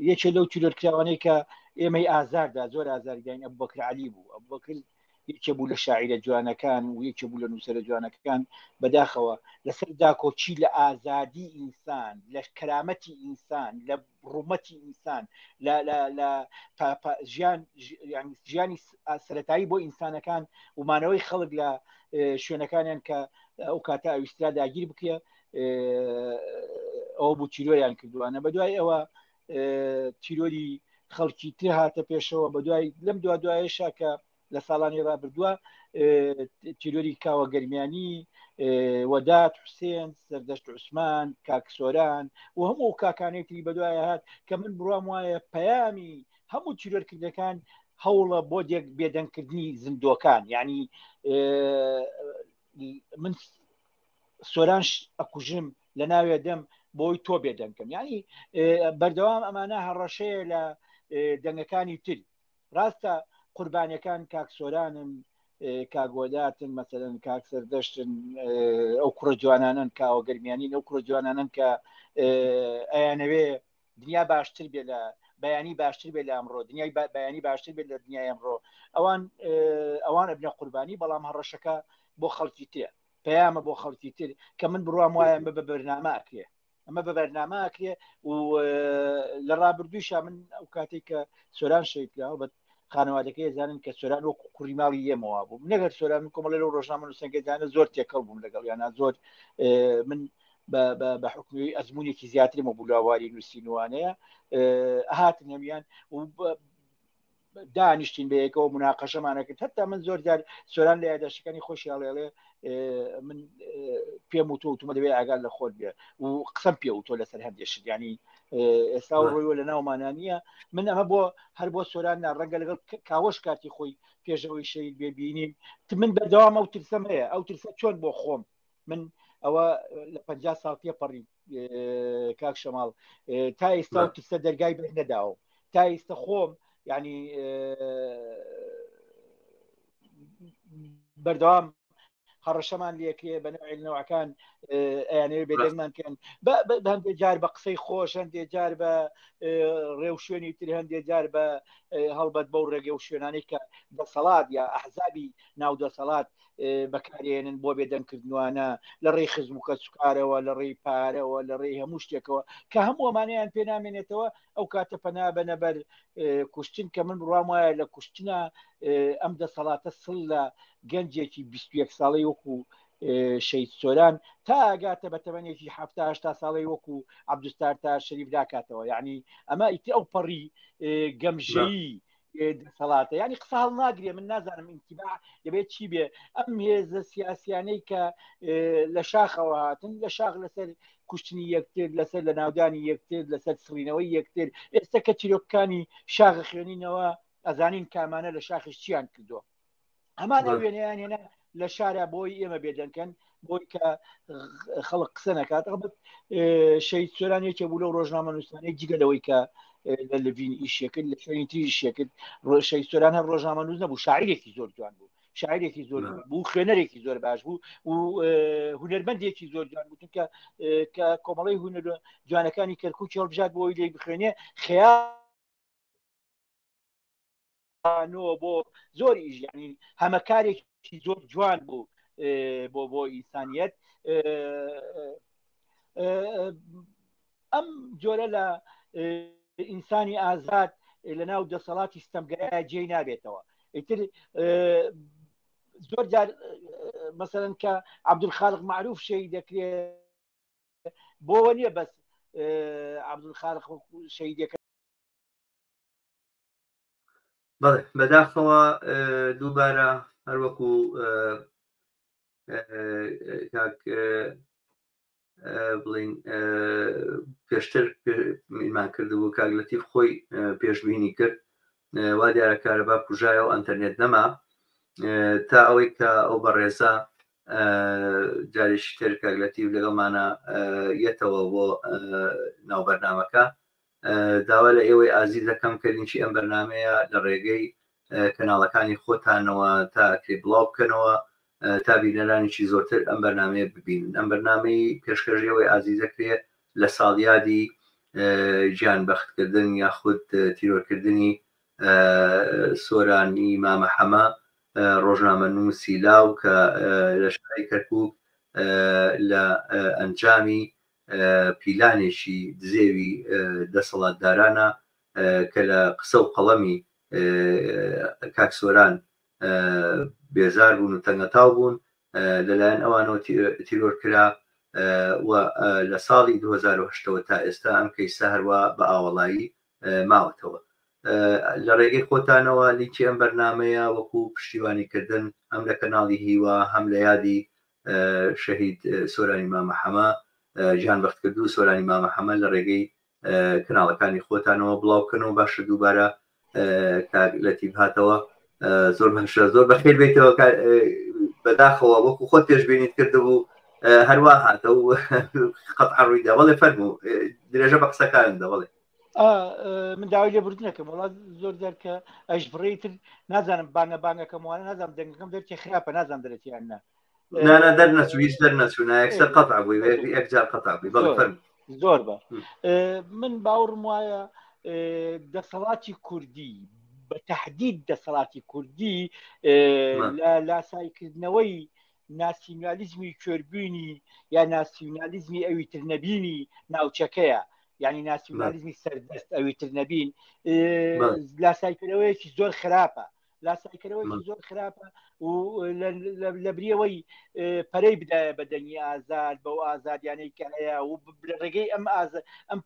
یەکێ لەو تیرۆر کراوانەی کە ئێمەی ئازاردا زۆر ئازارگەین ئە بەکر علی بوو ئە بەکر یەکێ بوو لە شاعرە جوانەکان و یەکێ بوو لە نووسرە جوانەکان بەداخەوە لەسەر داکۆچی لە ئازادی ئینسان لە کەرامەتی ئینسان لە ڕوومەتی ئینسان لە ژیان ژیانی سەتایی بۆ ئینسانەکان ومانەوەی خەڵک لە شوێنەکانیان کە ئەو کاتە ئەویسترا داگیر بکە ئەو بوو تیرۆیان کردوانە بە دوای ئەوە تیرۆری خەڵکی تر هاتە پێشەوە بە دوای لەم دو دوایشا کە لە ساڵانی رابردووە تیرۆری کاوە گەرمیانی وەدات حوسێن سەردەشت عوسمان کاکسۆران و هەموو ئەو کاکانەی تری بەدوای هات کە من بڕام وایە پەیامی هەموو تیرۆرکردەکان هەوڵە بۆ دێک بێدەنگکردنی زیندۆکان یعنی من سۆرانش ئەکوژم لە ناوێ دەم بۆی تۆ بێ دەنکەم ینی بەردەوام ئەمانە هەڕەشەیە لە دەنگەکانی تر ڕاستە قوربانەکان کاک سۆرانن کاگۆداتن مەسەن کاک سەردەشتن ئەو کوڕە جوانانن کاوە گەرمیانین ئەو کوڕە جوانانن کە ئەیانەوێ دنیا باشتر بێ لە بەیانی باشتر بێ لە ئەمڕۆ دنیای بەیانی باشتر بێت لە دنیای ئەمڕۆ ئەوان ئەوان ئەبنە قوربانی بەڵام هەڕەشەکە بۆ خەڵکی تێ پەیامە بۆ خەڵکی تر کە من بڕوام وایە بە بە بەرنامە ئەکرێ ئەمە بە بەرنامە ئەکرێ و لە ڕابردوویشا من ئەو کاتێک کە سۆران شەیدکرا بە خانەوادەکەی زانن کە سۆران وەکو کوڕی ماڵی ئێمەوە بوو نەگەر سۆران کۆمەڵی لەو ڕۆژنامە نووسەنگەدانە زۆر تێکەڵ بووم لەگەڵ یانە زۆر من بە حکومی ئەزمونێکی زیاترمە بولاواری نووسینوانەیە هاتن هەمیان دانیشتین بەیەکەوە مناقەشەمانەکرد هەتا من زۆر جار سۆران لە یاداشەکانی خۆشی هەڵێڵێ من پێم و تۆتمە دەبێت ئاگار لە خۆت بێ و قسەم پێ و تۆ لەسەر هەندێک شتیانی ئێستا ڕۆیوە لە ناومانە نییە من ئەمە بۆ هەر بۆ سۆران ناڕەنگە لەگەڵ کاوەش کاتی خۆی پێشەوەی شەید بێبینیم من بەدەوام ئەو ترسەم هەیە ئەو ترسە چۆن بۆ خۆم من ئەوە لە پ ساڵ تێپەڕی کاک شەماڵ تا ئێستا ترسە دەرگای بێت نەداوە تا ئێستا خۆم ینی بەردەوام هەڕەشەمان لەکرێ بە نەوەکان ئەیانەوە بێدەنگمان کەن هەندێک جار بە قسەی خۆش هەندێ جار بە ڕێو شوێنی تر هەندێ جار بە هەڵبەت بەو ڕێگە و شوێنانی کە دەسەڵات یا ئەحزابی ناو دەسەڵات بەکارێنن بۆ بێدەنگ کردنوانە لە ڕێی خزم و کەسوکارەوە لە ڕێی پارەوە لە ڕێی هەموو شتێکەوە کە هەموو ئەمانیان پێ نامێنێتەوە ئەو کاتە پەنا بەنەبەر کوشتن کە من بڕام وایە لە کوشتنە ئەم دەسەڵاتە سڵ لە گەنجێکی 21 ساڵی وەکو شەید سۆران تا ئاگاتە بە تەمەنێکی هەفتا هشتا ساڵی وەکو عبدستار تا شەریف داکاتەوە یعنی ئەمە ئیتی ئەو پەڕی گەمژەیی دەسەڵاتە ینی قسە هەڵ ناگرێ من نازانم ئینتیبا دەبێت چی بێ ئەم هێزە سیاسیانەی کە لە شاخەوە هاتن لە شاخ لەسەر کوشتنی یەکتر لەسەر لە ناودانی یەکتر لەسەر سڕینەوەی یەکتر ئێستا کە چیرۆکەکانی شاخە خوێنینەوە ئەزانین کامانە لە شاخش چیان کردووە ئەمان ئەو وێنەیان هێنا لە شارە بۆی ئێمە بێدەنکەن بۆی کە خەڵک قسە نکات ئەڵبەت شەید سۆران یەکێ بوو لەو ڕۆژنامە نووسانەی جگە لەوەی کە لە لڤین ئیشەکرد لە شوێنی تری شێکرد ڕۆشەی سۆران هەر ڕۆژنامە نووز نەبوو شاعرێکی زۆر جوان بوو شاعرێکی زۆر بوو خوێنەرێکی زۆر باش بوو و هوەرمەندێکی زۆر جوان بوو چونکە کە کۆمەڵی هوەر جوانەکانی کەرکوچ هەڵبژات بۆی لێ بخوێنێ خیا ئەوانەوە بۆ زۆر ئیژیانی هەمەکارێکی زۆر جوان بوو بۆ بۆ ئینسانیت ئەم جۆرە لە ئینسانی ئازاد لە ناو دەسەڵاتی ستەمگەرە جێ نابێتەوە ئیتر زۆر جار مەسەرەن کە عبدول خاڵق معروف شەی دەکرێت بۆ نیە بەس عبدول خاڵق شەیدەکە بەڵێ بەداخەوە دووبارە هەروەکو بڵین پێشتر میمان کردبوو کاگلەتیف خۆی پێشببینی کرد وا دیارە کارەبا کوژایە و ئەتەرنێت نەما تا ئەوەی کە ئەو بەڕێزە جارێکی تر کاگلەتیف لەگەڵمانە یەتەوە بۆ ناوبەرنامەکە داوا لە ئێوەی ئازیز دەکەم کە لینکی ئەم بەرنامەیە لە ڕێگەی کەناڵەکانی خۆتانەوە تا ئەکرێ بڵاو بکەنەوە تا بینەرانێکی زۆرتر ئەم بەرنمەیە ببین ئەم بەرنمەی پێشکەژەوەی ئازی دەکرێت لە ساڵیادی گیان بەختکردن یاخود تیرۆرکردنی سۆرانی مامە حەمە ڕۆژنامە نووسی لاو کە لە شاری کەرکک لە ئەنجامی پیلانێکی دزێوی دەسەڵاتدارانە کە لە قسە و قەڵەمی کاک سۆران بێزار بوون و تەنگەتاو بوون لەلایەن ئەوانەوە تیرۆر کرا و لە ساڵی 2008ەوە تا ئێستا ئەم کەیسە هەروە بە ئاوەڵایی ماوەتەوە لە ڕێگەی خۆتانەوە لینکی ئەم بەرنمەیە وەکو پشتیوانیکردن ئەم لە کەناڵی هیوا هەم لە یادی شەهید سۆرانی مامە حەمە گیان بەخت کردوو سۆرانی مامە حەمە لە ڕێگەی کەناڵەکانی خۆتانەوە بڵاو بکەنەوە باشە دووبارە لەتیب هاتەوە زۆر باشە زۆر بەخێر بێتەوە بەداخەوە وەکو خۆت پێشببینیت کردبوو هەروە هاتە و قەت عڕوویدا بەڵێ فەرمو درێژە بە قسەکارن دەبڵێ من داوای لێ بردنەکەم وڵات زۆر دەرکە ئەش بڕی تر نازانم بانە بانەکەم وانە نازانم دەنگەکەم دەرکی خراپە نازان دەرەتیان نە نانە دەر نەچویش دەر نەچوونا یەکسەر قەت بووی یەکجار قەت بووی بەڵ زۆر بە من باوڕم وایە دەسەڵاتی کوردی بە تهدید دەسەڵاتی کوردی لە لاسایکردنەوەی ناسیونالیزمی کوێربوونی یا ناسیونالیزمی ئەوی تر نەبینی ناوچەکەیە یعنی ناسیونالیزمی سەردەست ئەوی تر نەبین لاسایکردەوەیەکی زۆر خراپە لاسایکردەوەی زۆر خراپە و لە بریەوەی پەرەی بدایە بە دەنگی ئازاد بەو ئازادیانەی کە هەیە و ڕێگەی ئەم ئازاد ئەم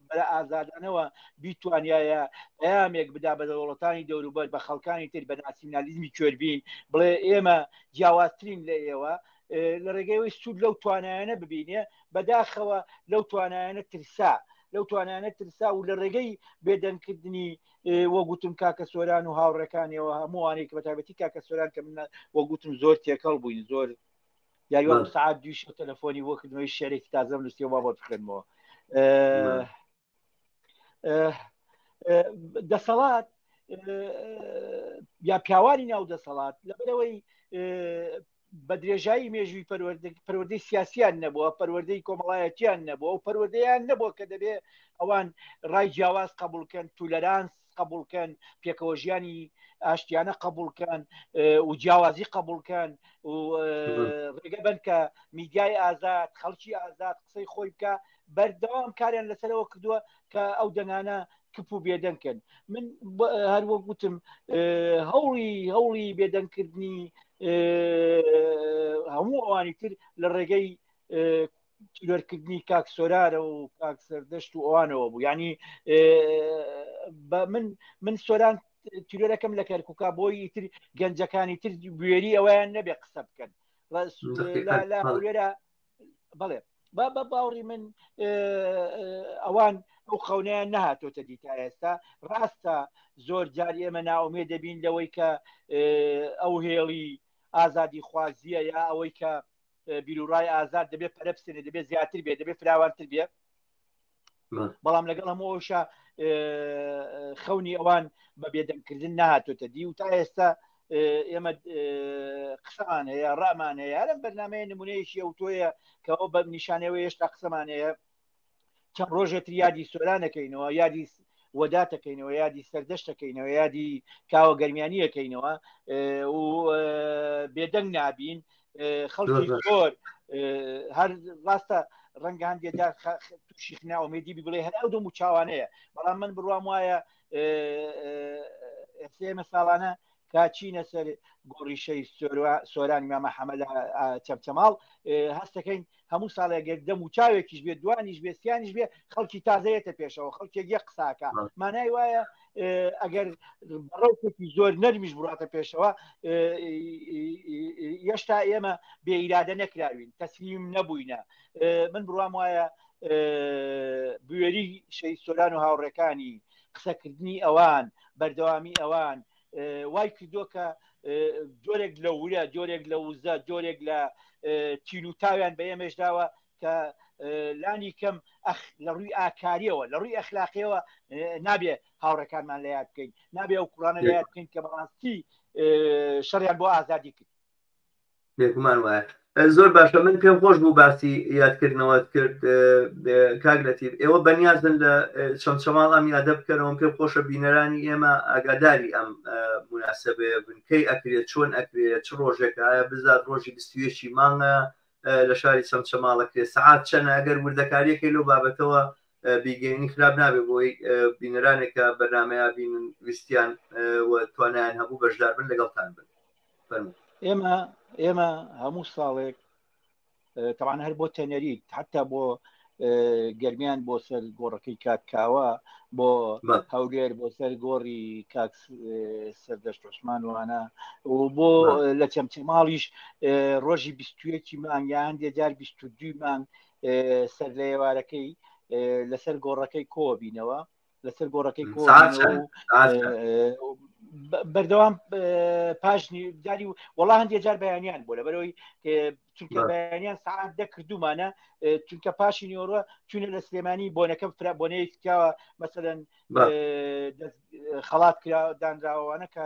بەرە ئازادانەوە بیتوانایە پەیامێک بدا بە دەوڵەتانی دەوروبەر بە خەڵکانی تر بە ناسیینالیزمی کوێربین بڵێ ئێمە جیاوازترین لە ئێوە لە ڕێگەیەوەی سوود لەو توانایانە ببینێ بەداخەوە لەو توانایانە ترسا. لەو توانانە ترسا و لە ڕێگەی بێدەنگکردنی وەگوتم کاکە سۆران و هاوڕەکانیەوە هەمووانێک بەتابەتی کاکە سۆران کە منە وەگوتم زۆر تێکەڵ بووین زۆر یاریوان بەڵێ. سعات دویش تەلەفۆنی بۆ کردنەوەی شعرێکی تازەم نووسی با بۆت بخێنمەوە بەڵێ. دەسەڵات یا پیاوانی ناو دەسەڵات لەبەرەوەی بە درێژایی مێژووی پەروەردە- پەروەردەی سیاسیان نەبووە پەروەردەی کۆمەڵایەتیان نەبووە و پەروەردەیان نەبووە کە دەبێ ئەوان ڕای جیاواز قبولکەن تولەرانس قبولکەن پێکەوە ژیانی ئاشتیانە قبولکەن و جیاوازی قبولکەن و ڕێگە بن کە میدیای ئازاد خەڵکی ئازاد قسەی خۆی بکە بەردەوام کاریان لەسەرەوە کردووە کە ئەو دەنگانە کپ و بێدەنکن من هەروە گوتم هەوڵی هەوڵی بێدەنگکردنی هەموو ئەوانی تر لە ڕێگەی ترۆرکردنی کاک سۆرارە و کاک سەردەشت و ئەوانەوە بوو ینی من من سۆران تیرۆرەکەم لە کەرککە بۆی تر گەنجەکانی تر بوێری ئەویان نەبێ قسە بکەن لەێرە بڵێ با بە باوڕی من ئەوان ئەو خەونیان نەهاتۆتە دیتا ئێستا ڕاستە زۆر جار ئێمە ناومێ دەبین لەوەی کە ئەو هێڵی ئازادی خوازیە یا ئەوەی کە بیرورای ئازاد دەبێت پەرە بسێنێ دەبێت زیاتر بێت دەبێت فراوانتر بێت بەڵام لەگەڵ هەموو ئەوشە خەونی ئەوان بە بێدەنگکردن نهاتۆتە دی و تا ئێستا ئێمە قسەمان هەیە ڕامان هەیە هەرم بەرنمەیە نمونەیەکی ئەو تۆیە کەەوە بە نیشانەوە هێشتا قسەمان هەیە چەند ڕۆژێتر یادی سۆرانەکەینەوە یادی وەداتەکەینەوە یادی سەردەشتەکەینەوە یادی کاوە گەرمیانیەکەینەوە و بێدەنگ نابین خەڵکی زۆر هەر ڕاستە ڕەنگان دێدا تووشیخنا ئومێدی بڵێ هەر ئەو دەم و چاوانەیە بەڵام من بڕوام وایە ئێمە ساڵانە تا چینە سەر گۆڕیشەی سۆرانی مامە حەمەدا چەمچەماڵ هەستەکەین هەموو ساڵێگەر دەم و چاوێکیش بێت دوانیش بێستیانیش بێ خەڵکی تازەیەتە پێشەوە خەڵکێک یە قساکە مانای وایە ئەگەر بەڕەوتێکی زۆر نەرمیش بڕاتە پێشەوە یشتا ئێمە بێئیرادە نەکراوین تەسلیم نەبووینە من بڕام وایە بوێری شەی سۆران و هاوڕەکانی قسەکردنی ئەوان بەردەوامی ئەوان وای کردووە کە جۆرێک لە ورە جۆرێک لە وزە جۆرێک لە تیل و تاویان بە ئێمەش داوە کە لانی کەم لە ڕووی ئاکاریەوە لە ڕووی ئەخلاقیەوە نابێ هاوڕەکانمان لە یاد بکەین نابێ ئەو کوڕانە لە یاد بکەین کە بەڕاستی شەڕیان بۆ ئازادی کرد بێگومان وایە زۆر باشە من پێم خۆش بوو باسی یادکردنەوەت کرد کاک لەتیب ئێوە بەنیازن لە چەمچەماڵ ئەم یادە بکەنەوەم پێم خۆشە بینەرانی ئێمە ئاگاداری ئەم مناسبەیە بنکەی ئەکرێت چۆن ئەکرێت چ ڕۆژێکە بزات ڕۆژی بستوێکی مانگە لە شاری چەمچەماڵە کرێ سعات چەنە ئەگەر وردەکاریەکەی لەو بابەتەوە بیگەینی خراپ نابێ بۆی بینەرانێکە بەرنمەیە بینن ویستیان و توانیان هەبوو بەشدار بن لەگەڵتان بن ئێمە ئێمە هەموو ساڵێک تەوان هەر بۆ تەنەریت حتا بۆ گەرمیان بۆ سەر گۆڕەکەی کاکاوە بۆ هەولێر بۆ سەر گۆڕی کاک سەردەشت عوسمان وانە و بۆ لە چەمچەماڵیش ڕۆژی بیستویەکی مان یان دێجار بیست دوی مان سەر لە ئێوارەکەی لەسەر گۆڕەکەی کۆبینەوە لەسەر گۆڕەکەی کۆ بەردەوام پاشنی داری و وەڵا هەندێ جار بەیانیان بۆ لە بەرەوەی چونکە بەیانیان سعات دەکردومانە چونکە پاشی نیۆڕە چونە لە سلێمانی بۆنەکەم فرا بۆنەیەکەوە مەسەن خەڵات کرا دانراوانە کە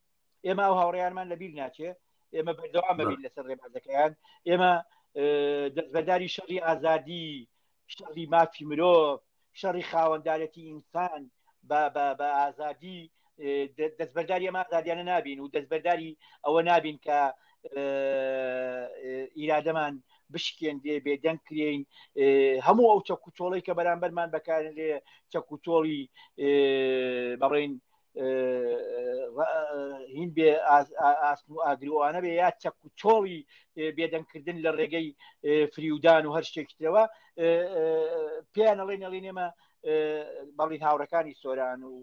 ئێمە ئەو هاوڕێیانمان لە بیر ناچێ ئێمە بەردەوام بەبین لەسەر ڕێبازەکەیان ئێمە دەستبەداری شەڕی ئازادی شەڕی مافی مرۆڤ شەڕی خاوەندارەتی ئینسان بە ئازادی دەستبەرداری ئەمە ئازادیانە نابین و دەستبەرداری ئەوە نابین کە ئیرادەمان بشکێندێ بێدەنگ کرێین هەموو ئەو چەکوچۆڵی کە بەرامبەرمان بەکارێ چەکوچۆڵی بەڕین هین بێ ئاسن و ئاگرروانە بێ یا چەک و چۆڵی بێدەنگکردن لە ڕێگەی فریودان و هەر شتێکی ترەوە پێیان ئەڵێ نەڵی نێمە بەڵین هاوڕەکانی سۆران و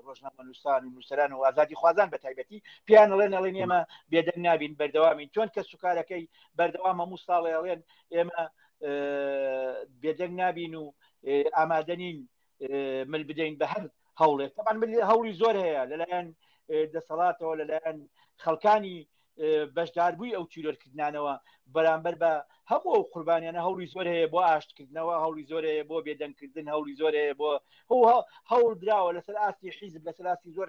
ڕۆژنامەنووسان و نووسران و ئازادی خوازان بە تایبەتی پێیان ئەڵێ نەڵێ نێمە بێدەنگ نابین بەردەوامین چۆن کە سوکارەکەی بەردەوام هەموو ساڵێ ئەڵێن ئێمە بێدەنگ نابین و ئامادەنین مل بدەین بە هەر هەوڵێت تەمان ملی هەوڵی زۆر هەیە لەلایەن دەسەڵاتەوە لەلایەن خەڵکانی بەشداربووی ئەو تیرۆرکردانەوە بەرامبەر بە هەموو ئەو قوربانیانە هەوڵی زۆر هەیە بۆ ئاشتکردنەوە هەوڵی زۆر هەیە بۆ بێدەنگکردن هەوڵی زۆر هەیە بۆ هەوڵ دراوە لەسەر ئاستی حیزب لەسەر ئاستی زۆر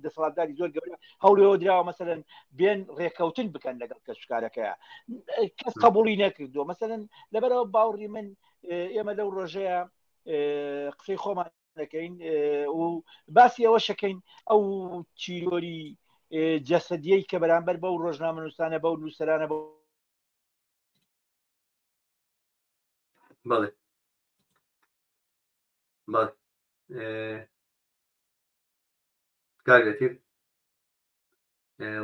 دەسەڵاتداری زۆر گەورە هەوڵەوە دراوە مەسەن بێن ڕێککەوتن بکەن لەگەڵ کەسکارەکەیە کەس قبولی نەکردو مەسەن لەبەرەوە باوڕی من ئێمە لەو ڕۆژەیە قسەی خۆمان دەکەین و باسی ئەوە شەکەین ئەو چیرۆری جەسەدیەی کە بەرامبەر بەو ڕۆژنامە نووسانە بەو نووسرانە بۆ بەڵێ بەڵێ کارگەتیر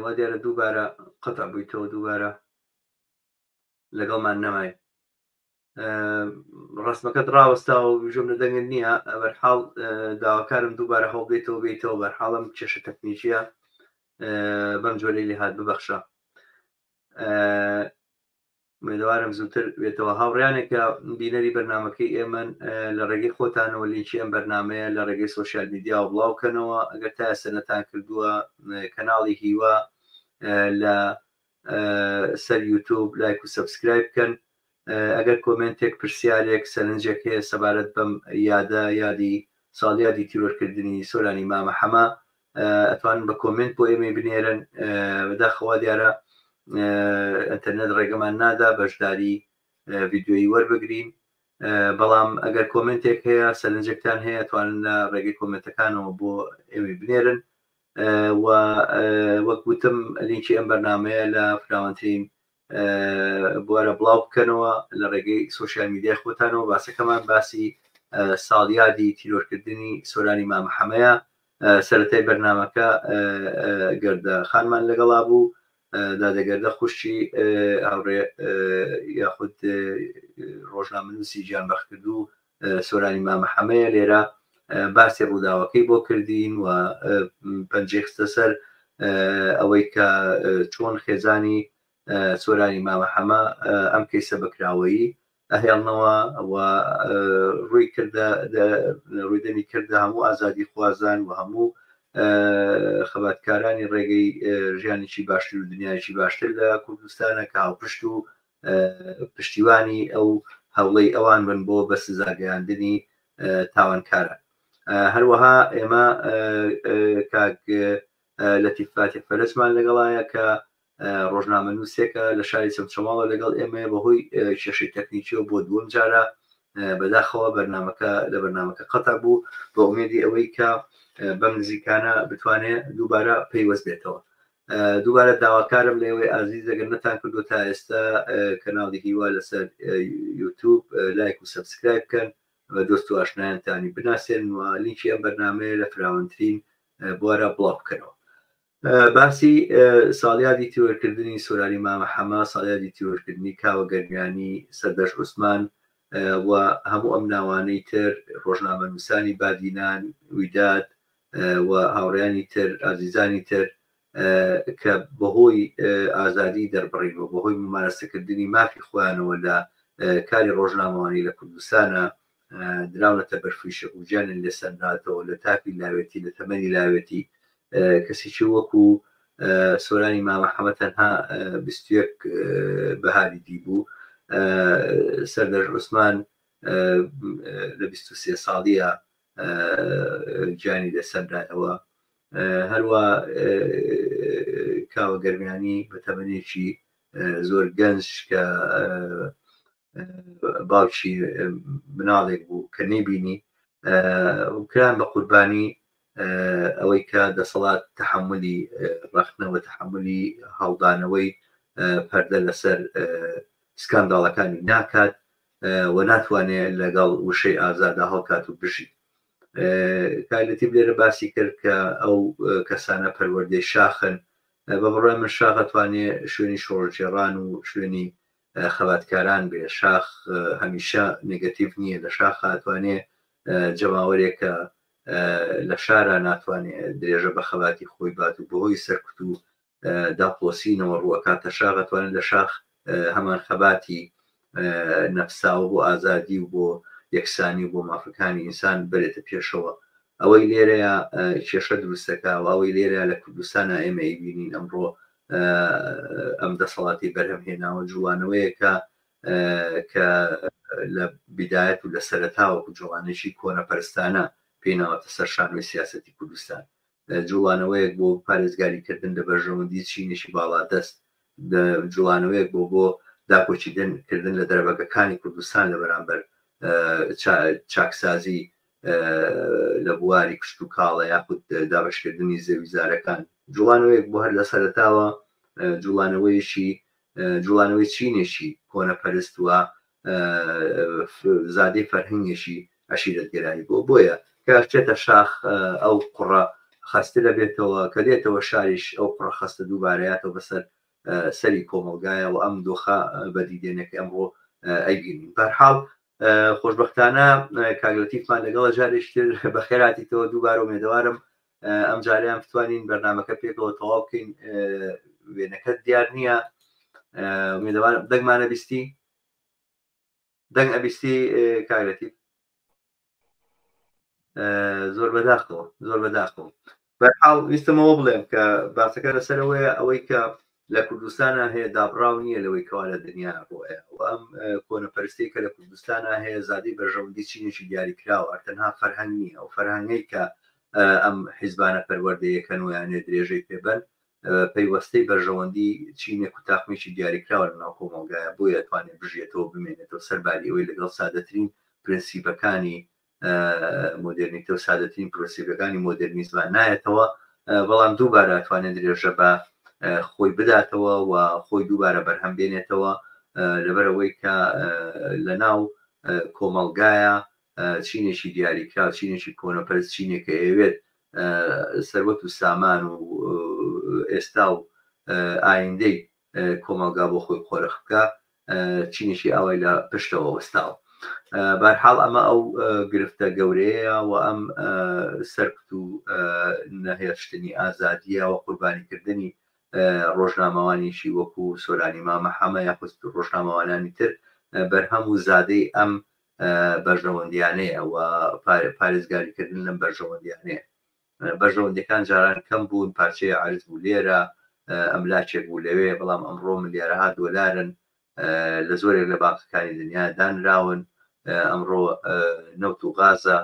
وا دیارە دووبارە قەتع بوویتەوە دووبارە لەگەڵمان نەمای ڕسمەکەت ڕاوەستاوە بژم لە دەنگت نییە ئەبەرحاڵ داواکارم دووبارە هەڵبێتەوە بێتەوە بەرحاڵم کێشە تەکنیکیە بەم جۆرەی لێهات ببەخشە ئومێدەوارم زووتر بێتەوە. هاوڕێیانێک کە بینەری بەرنامەکەی ئێمەن لە ڕێگەی خۆتانەوە لینکی ئەم بەرنامەیە لە ڕێگەی سۆشیال میدیاوە بڵاو کەنەوە ئەگەر تا ئێستا نەتان کردووە کەناڵی هیوا لە سەر یوتوب لایک و سەبسکرایب بکەن ئەگەر کۆمنتێک پرسیارێک سەرنجێک هەیە سەبارەت بەم یادە یادی ساڵیادی تیرۆرکردنی سۆرانی مامە حەمە ئەتوانن بە کۆمێنت بۆ ئێمەی بنێرن بەداخەوە دیارە ئەتەرنێت ڕێگەمان نادا بەشداری ڤیددیۆیی وەربگرین بەڵام ئەگەر کۆمنتێک هەیە سەرنجێکتان هەیە توانن لە ڕێگەی کۆمنتەکانەوە بۆ ئێوی بنێرن و وەک وتم لینکی ئەم بەرنمەیە لە فراوانترین بوارە بڵاو بکەنەوە لە ڕێگەی سوۆسیال میدیای خۆتانەوە باسەکەمان باسی ساڵیادی تیرۆرکردنی سۆرانی مامحەمەیە سەتای بەرنمەکە گەردە خانمان لەگەڵا بوو دادەگەردە خوشتی هاوڕێ یاخود ڕۆژنامەنووسی گیان بەخکردو سۆرانی مامە حەمەیە لێرە باسی ڕووداوەکەی بۆ کردین و پەنجەی خستە سەر ئەوەی کە چۆن خێزانی سۆرانی مامە حەمە ئەم کەیسە بەکراوەیی ئەهێڵنەوە و ڕووی کردە ڕوودەنی کردە هەموو ئازادی خوازان و هەموو خەباتکارانی ڕێگەی ژیانێکی باشتر و دنیایکی باشتر لە کوردستانە کە هاوپشت و پشتیوانی ئەو هەوڵەی ئەوان بن بۆ بە سزاگەیاندنی تاوانکارە هەروەها ئێمە کاک لەتیفاتی فەرزمان لەگەڵایە کە ڕۆژنامە نووسێکە لە شاری چەمچەماڵە لەگەڵ ئێمە بەهۆی کێشەی تەکنیکیەوە بۆ دووەم جارە بەداخەوە بەرنمەکە لە بەرنمەکە قەتا بوو بە ئومێدی ئەوەی کە بەم نزیکانە بتوانێت دووبارە پەیوەست بێتەوە دووبارە داواکارم لەئێوەی ئازیز ئەگەر نەتانکردووە تا ئێستا کەناڵی هیوا لەسەر یوتوب لایک و سەبسکرایب بکەن و دۆست و ئاشنایانتانی بناسێنن و لینکی ئەم بەرنامەیە لە فراوانترین بوارا بڵاو بکەنەوە باسی ساڵیادی تیۆرکردنی سۆرانی مامە حەما ساڵیادی تیۆرکردنی کاوە گەرمیانی سەردەش عوسمان و هەموو ئەم ناوانەی تر ڕۆژنامە نووسانی بادینان ویداد و هاوڕێیانی تر، ئازیزانی تر کە بەهۆی ئازادی دەربڕین و بەهۆی مومارەسەکردنی مافی خۆیانەوە لە کاری ڕۆژنامەوانی لە کوردستانا دراونەتە بەر فیشەک و گیانیان لێ سەنراتەوە لە تافی لاوێتی لە تەمەنی لاوێتی کەسیکی وەکو سۆرانی مامە حەمە تەنها بیست و یەک بەهاری دیبوو سەردەشت عوسمان لە بیست و سێ ساڵیە گیانی لەسەردایەوە هەروا کاوە گەرمیانی بە تەمەنێکی زۆر گەنج کە باوکی مناڵێک بوو کە نەیبینی کران بە قوربانی ئەوەی کە دەسەڵات تحملی ڕخنەوە تحملی هەڵدانەوەی پەردە لەسەر سکانداڵەکانی ناکات و ناتوانێ لەگەڵ وشەی ئازادا هەڵکات و بژی کالەتیب لێرە باسی کرد کە ئەو کەسانە پەروەردەی شاخن بە بڕای من شاخە توانێ شوێنی شۆڕجێڕان و شوێنی خەباتکاران بێ شاخ هەمیشە نگەتیڤ نییە لە شاخ هاتوانێ جەماوەرێکە لە شارە ناتوانێت درێژە بە خەباتی خۆی بات و بەهۆی سەرکوت و دا پۆسینەوە ڕوو ئەکاتە شاخ ئەتوانێت لە شاخ هەمان خەباتی نەفساوە بۆ ئازادی و بۆ یەکسانی و بۆ مافەکانی ئینسان بەرێتە پێشەوە ئەوەی لێرەیە کێشە دروستەکە و ئەوەی لێرە لە کوردستانە ئێمە ئەیبینین ئەمڕۆ ئەم دەسەڵاتی بەرهەم هێناوە جوانەوەیەکە کە لە بدایەت و لە سەرتاوەکو جوانێکی کۆنەپەرستانە پێیناوەتە سەر شانۆی سیاستی کوردستان جوڵانەوەیەک بۆ پارێزگاری کردن لە بەرژەوەندی چینێکی باڵادەست، جوڵانەوەیەک بۆ بۆ داکۆکیدن کردن لە دەرەبەگەکانی کوردستان لە بەرامبەر چاکسازی لە بواری کشتوکاڵە یاخود دابەشکردنی زەویزارەکان، جوڵانەوەیەک بۆ هەر لە سەرەتاوە جوڵانەوەیەکی جوڵانەوەی چینێکی کۆنەپەرست و زادەی فەرهەنگێکی عەشیرەتگەرایی بووە، بۆیە کە ئەچێتە شاخ ئەو قوڕە خەستە دەبێتەوە، کە دێتەوە شاریش ئەو قوڕە خەستە دووبارەیاتەوە بەسەر سەری کۆمەڵگایە و ئەم دۆخە بەدیدێنێ کە ئەمڕۆ ئەیبینین. بەرحاڵ خۆشبەختانە کاک لەتیفمان لەگەڵە جارێکی تر بەخێرهاتیتەوە، دووبارە ئومێدەوارم ئەم جارەیان بتوانین بەرنمەکە پێکەوە تەواو بکەین وێنەکەت دیار نییە میدەوان دەنگمانە بیستی دەنگ ئەبیستی کاگرەتی زۆر بەداخەوە زۆر بەداخەوە بەحاڵ ویستمەوە بڵێم کە باسەکە لەسەرەوەیە ئەوەی کە لە کوردستانا هەیە دابڕاو نیە لەوەی کەوا لە دنیا بوەە وە ئەم کۆنەپەرستیەی کە لە کوردستانا هەیە زادەی بەرژەوەندی چینێکی دیاری کراوە ئەر تەنها فەرهەنگ نیە ئەو فەرهەنگەی کە ئەم حیزبانە پەروەردەی یەکەن و یانێ درێژەی پێ بەن پەیوەستەی بەرژەوەندی چینێک و تاقمیکی دیاری کراوە لە ناو کۆمەڵگایە بۆیە توانێت بژێتەوە بمێنێتەوە سەر باریەوەی لەگەڵ سادەترین پرنسیپەکانی مۆدێرنیتە و سادەترین پرۆسیڤەکانی مۆدێرنیزمە نایەتەوە، بەڵام دووبارە ئەتوانێت درێژە بە خۆی بداتەوە و خۆی دووبارە بەرهەم بێنێتەوە لەبەر ئەوەی کە لە ناو کۆمەڵگایە چینێکی دیاریکرا و چینێکی کۆنەپەرز چینێکە ئەوێت سەروەت و سامان و ئێستا و ئایندەی کۆمەڵگا بۆ خۆی قۆرخ بکا چینێکی ئاوای لە پشتەوە وەستاوە بارحاڵ ئەمە ئەو گرفتە گەورەیە و ئەم سەرکت و نەهێشتنی ئازادیە و قوربانیکردنی ڕۆژنامەوانێکی وەکو سۆرانی مامە حەمە یاخست ڕۆژنامەوانانی تر بەرهەم و زادەی ئەم بەرژەوەندیانەیە و پارێزگاریکردن لەم بەرژەوەندیانەیە بەرژەوەندیەکان جاران کەم بوون پارچەیە عەرز بوو لێرە ئەملاچێک بوو لەوێ بەڵام ئەمڕۆ ملیارەها دۆلارن لە زۆرێک لە بانقەکانی دنیا دانراون ئەمڕۆ نەوت و غازە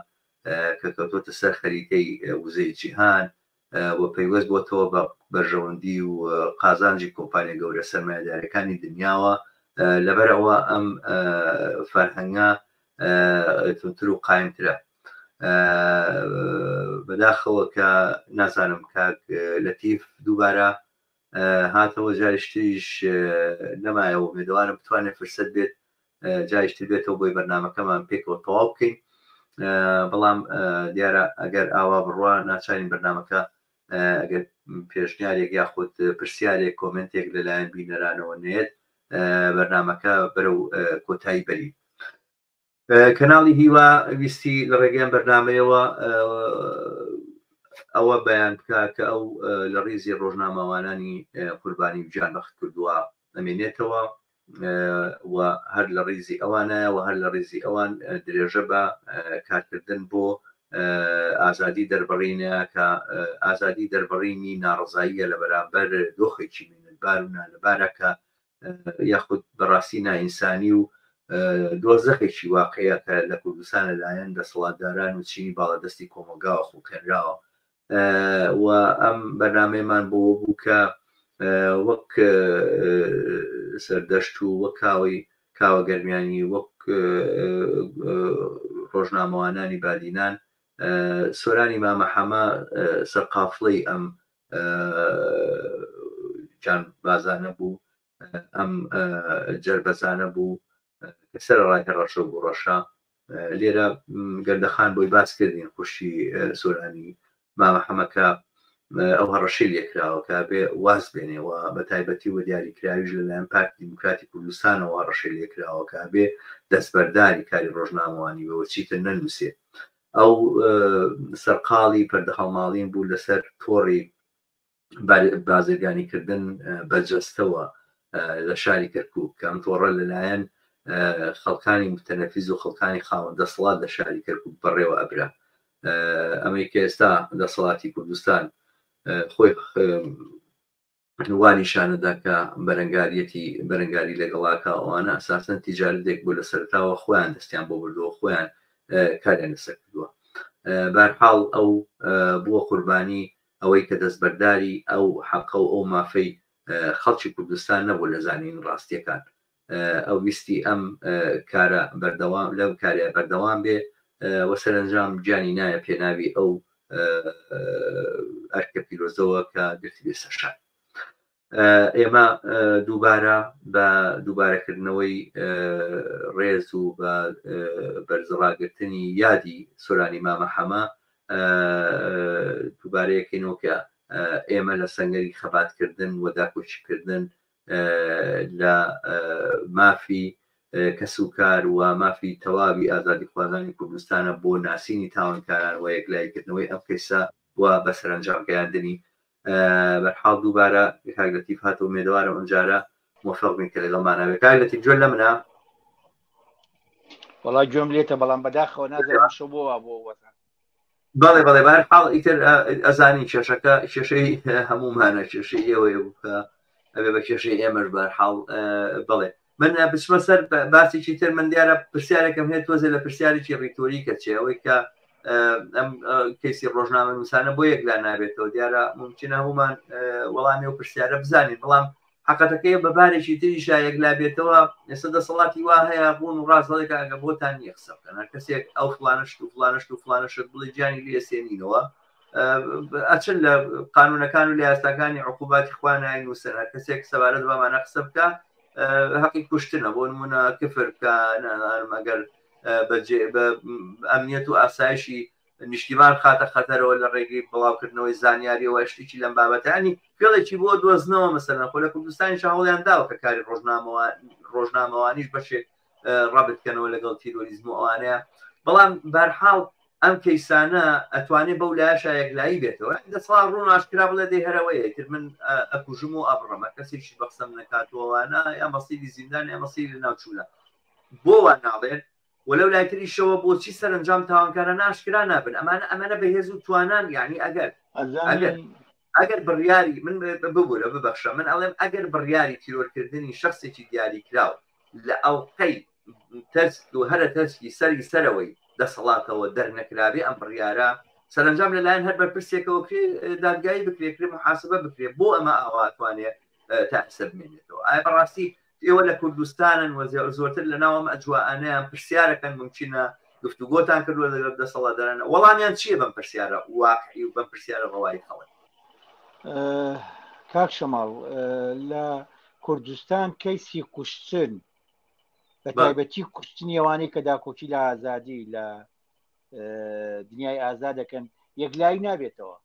کە کەوتۆتە سەر خەریتەی وزەی جیهان و پەیوەست بۆتەوە بە بەرژەوەندی و قازانجی کۆمپانیا گەورە سەرمایدارەکانی دنیاوە لەبەرەوە ئەم فەرهەنگە تونتر و قایمترە بەداخەوە کە نازانم کاک لەتیف دووبارە هاتەوە جاریشتریش نەمایەوە مێدەوارم بتوانێت فرسەت بێت جایشتر بێتەوە بۆی بەرنمەکەمان پێکەوە تەواو بکەین بەڵام دیارە ئەگەر ئاوا بڕوا ناچارین بەرنمەکە ئەگەر پێشنیارێک یاخود پرسیارێک کۆمنتێک لەلایەن بینەرانەوە نێت بەرنمەکە بەرەو کۆتایی بەرین کەناڵی هیوا ویستی لە ڕێگەیان بەرنمەیەوە ئەوە بەیان بکە کە ئەو لە ڕیزی ڕۆژنامەوانانی قوربانی جان بەخت کردووە ئەمێنێتەوە و هەر لە ڕیزی ئەوانایە و هەر لە ڕیزی ئەوان درێژە بە کارکردن بۆ ئازادی دەربڕینە کە ئازادی دەربڕینی ناڕزاییە لە بەرامبەر دۆخێکی مینەتبار و نالەبارە کە یاخود بەڕاستی نائینسانی و دۆزەخێکی واقعیە کە لە کوردستان لە لایەن دەسەڵاتداران و چینی باڵادەستی کۆمەڵگاوە خوڵقێنراوە و ئەم بەرنامەیەمان بۆوە بوو کە وەک سەردەشت و وەک کاوەی کاوە گەرمیانی وەک ڕۆژنامەوانانی بادینان سۆرانی مامەحەمە سەرقافڵەی ئەم جان بازانە بوو ئەم جەربەزانە بوو کە سەر ڕای هەڕەشە بوو ڕەشە لێرە گەردەخان بۆی باس کردین خوشی سۆرانی مامە حەمەکە ئەو هەڕەشی لێکراوەکە بێ واز بێنێەوە بە تایبەتی وە دیاریکراویش لەلایەن پارتی دیموکراتی کوردستانەوە هەڕەشی لێکراوەکە بێ دەستبەرداری کاری ڕۆژنامەوانی بەوە چیتر نەنووسێ ئەو سەرقاڵی پەردەهەڵماڵین بوو لەسەر تۆڕی بازرگانیکردن بە جەستەوە لە شاری کەرکک کەم تۆڕە لەلایەن خەڵکانی متەنەفیز و خەڵکانی خاوەن دەسەڵات لە شاری کەرکک بەڕێوە ئەبرا ئەمریکا ئێستا دەسەڵاتی کوردستان خۆی وا نیشانەدا کە بەرەنگاریەتی بەرەنگاری لەگەڵ ئاکا ئەوانە ئەساسەن تیجارەتێک بوو لە سەرتاوە خۆیان دەستیان بۆ بردووە خۆیان کاریان لەسەر کردووە بارحاڵ ئەو بووە قوربانی ئەوەی کە دەستبەرداری ئەو حەقە و ئەو مافەی خەڵکی کوردستان نەبوو لە زانین ڕاستیەکان ئەو ویستی ئەم کارە بەردەوام لەم کارە بەردەوام بێ و سەرەنجام گیانی نایە پێناوی ئەو ئەرکە پیرۆزەوە کە گرتی بێ سەرشان ئێمە دووبارە بە دووبارەکردنەوەی ڕێز و بە بەرزڕاگرتنی یادی سۆرانی مامە حەمە دووبارەیەکەینەوە کە ئێمە لە سنگەری خەباتکردن و داکۆچیکردن لە مافی کەس و کار و مافی تەواوی ئازادیخوازانی کوردستانە بۆ ناسینی تاوانکاران و یەکلاییکردنەوەی ئەم کەیسە و بە سەرەنجام گەیاندنی بەرحاڵ دووبارە کاک لەتیف هاتەوە مێدەوارم ئەمجارە مۆفق بین کە لەگەڵ ماناوێت کاک لەتیف جوێن لە منە وڵا گوێم لێتە بەڵام بەداخەوە نازانم شەو بۆ وا بۆ وەزان بەڵێ بەڵێ بار حاڵ ئیتر ئەزانی کێشەکە کێشەی هەمومانە کێشەی ئێوەیە بکە ئەبێ بە کێشەی ئێمەش بار حاڵ بڵێ من بچمە سەر باسێکی تر من دیارە پرسیارەکەم هەیە تۆزێ لە پرسیارێکی ڕیتۆری کە چێەوەی کە ئەم کەسی ڕۆژنامە نووسانە بۆ یەکلا نابێتەوە دیارە ممکنە هەمومان وەڵامی و پرسیارە بزانین بەڵام حەقەتەکەی بە بارێکی تریشا یەکلا بێتەوە ئێستا دەسەڵاتی وا هەیە بوون و ڕاست هەڵێکە ئەگە بۆتان نییە قسە بکەن هەر کەسێک ئەو فلانشت و فلانشت و فلانشت بڵێ گیانی لێ سێنینەوە ئەچن لە قانونەکان و لە یاساکانی عقوباتی خوانای نووسەر هەر کەسێک سەبارەت بەمانە قسە بکە هەقی کوشتنە بۆ نمونە کفر بکە نانمەگەر بەجێ بە ئەمنیەت و ئاسایشی نیشتیمان بخاتە خەتەرەوە لە ڕێگەی بڵاوکردنەوەی زانیاریەوە شتێکی لەم بابەتانی فێڵێکی بۆ دۆزنەوە مەسەرەن خۆ لە کوردستانی چاوڵیان داوە کە کاری ڕۆژنامەوە ڕۆژنامەوانیش بەشێک ڕابتکەنەوە لەگەڵ تیرۆریزم و ئەوانەیە بەڵام بارحاڵ ئەم کەیسانە ئەتوانێت بەو لاشە یەکلایی بێتەوە دەسڵا ڕوون ئاشکرا بڵێ دەی هەرەوەیە تر من ئەکوژم و ئەبڕەمە کەسێکی بەخسم نکاتوەوانە یا مەسیری زیندان یا مەسیری ناوچوونە بۆ وا ناڵێن وە لەو لای تریشەوە بۆچی سەرەنجام تاوانکارانە ئاشکرا نابن ئەمانە ئەمەنە بەهێز و توانان یانی ئەگەر ئەگەر ئەگەر بڕیاری من ببورە ببەخشە من ئەڵێم ئەگەر بڕیاری تیرۆرکردنی شخصێکی دیاری کراو لە ئەڵلقەی تەسک و هەرە تەسکی سەری سەرەوەی دەسەڵاتەوە دەرنەکراوی ئەم بڕیارە سەرنجام لەلایەن هەر بەرپرسێکەوە کرێ دادگایی بکرێ کرێ محاسبە بکرێ بۆ ئەمە ئاواتوانێ تاسە بمێنێتەوە ئایا بەڕاستی ئێوە لە کوردستانن و زۆرتر لە ناوەم ئەجوانیان پرسیارەکەن ممکنە گفتوگۆتان کردووە لەگەڵ دەسەڵاتدارانە وەڵامیان چییە بەم پرسیارە واقعی و بەم پرسیارە ڕەوایی خەڵک کاک شەماڵ لە کوردستان کەیسی کوشتن بە تایبەتی کوشتنی ئەوانەی کە داکۆکی لە ئازادی لە دنیای ئازا دەکەن یەکلایی نابێتەوە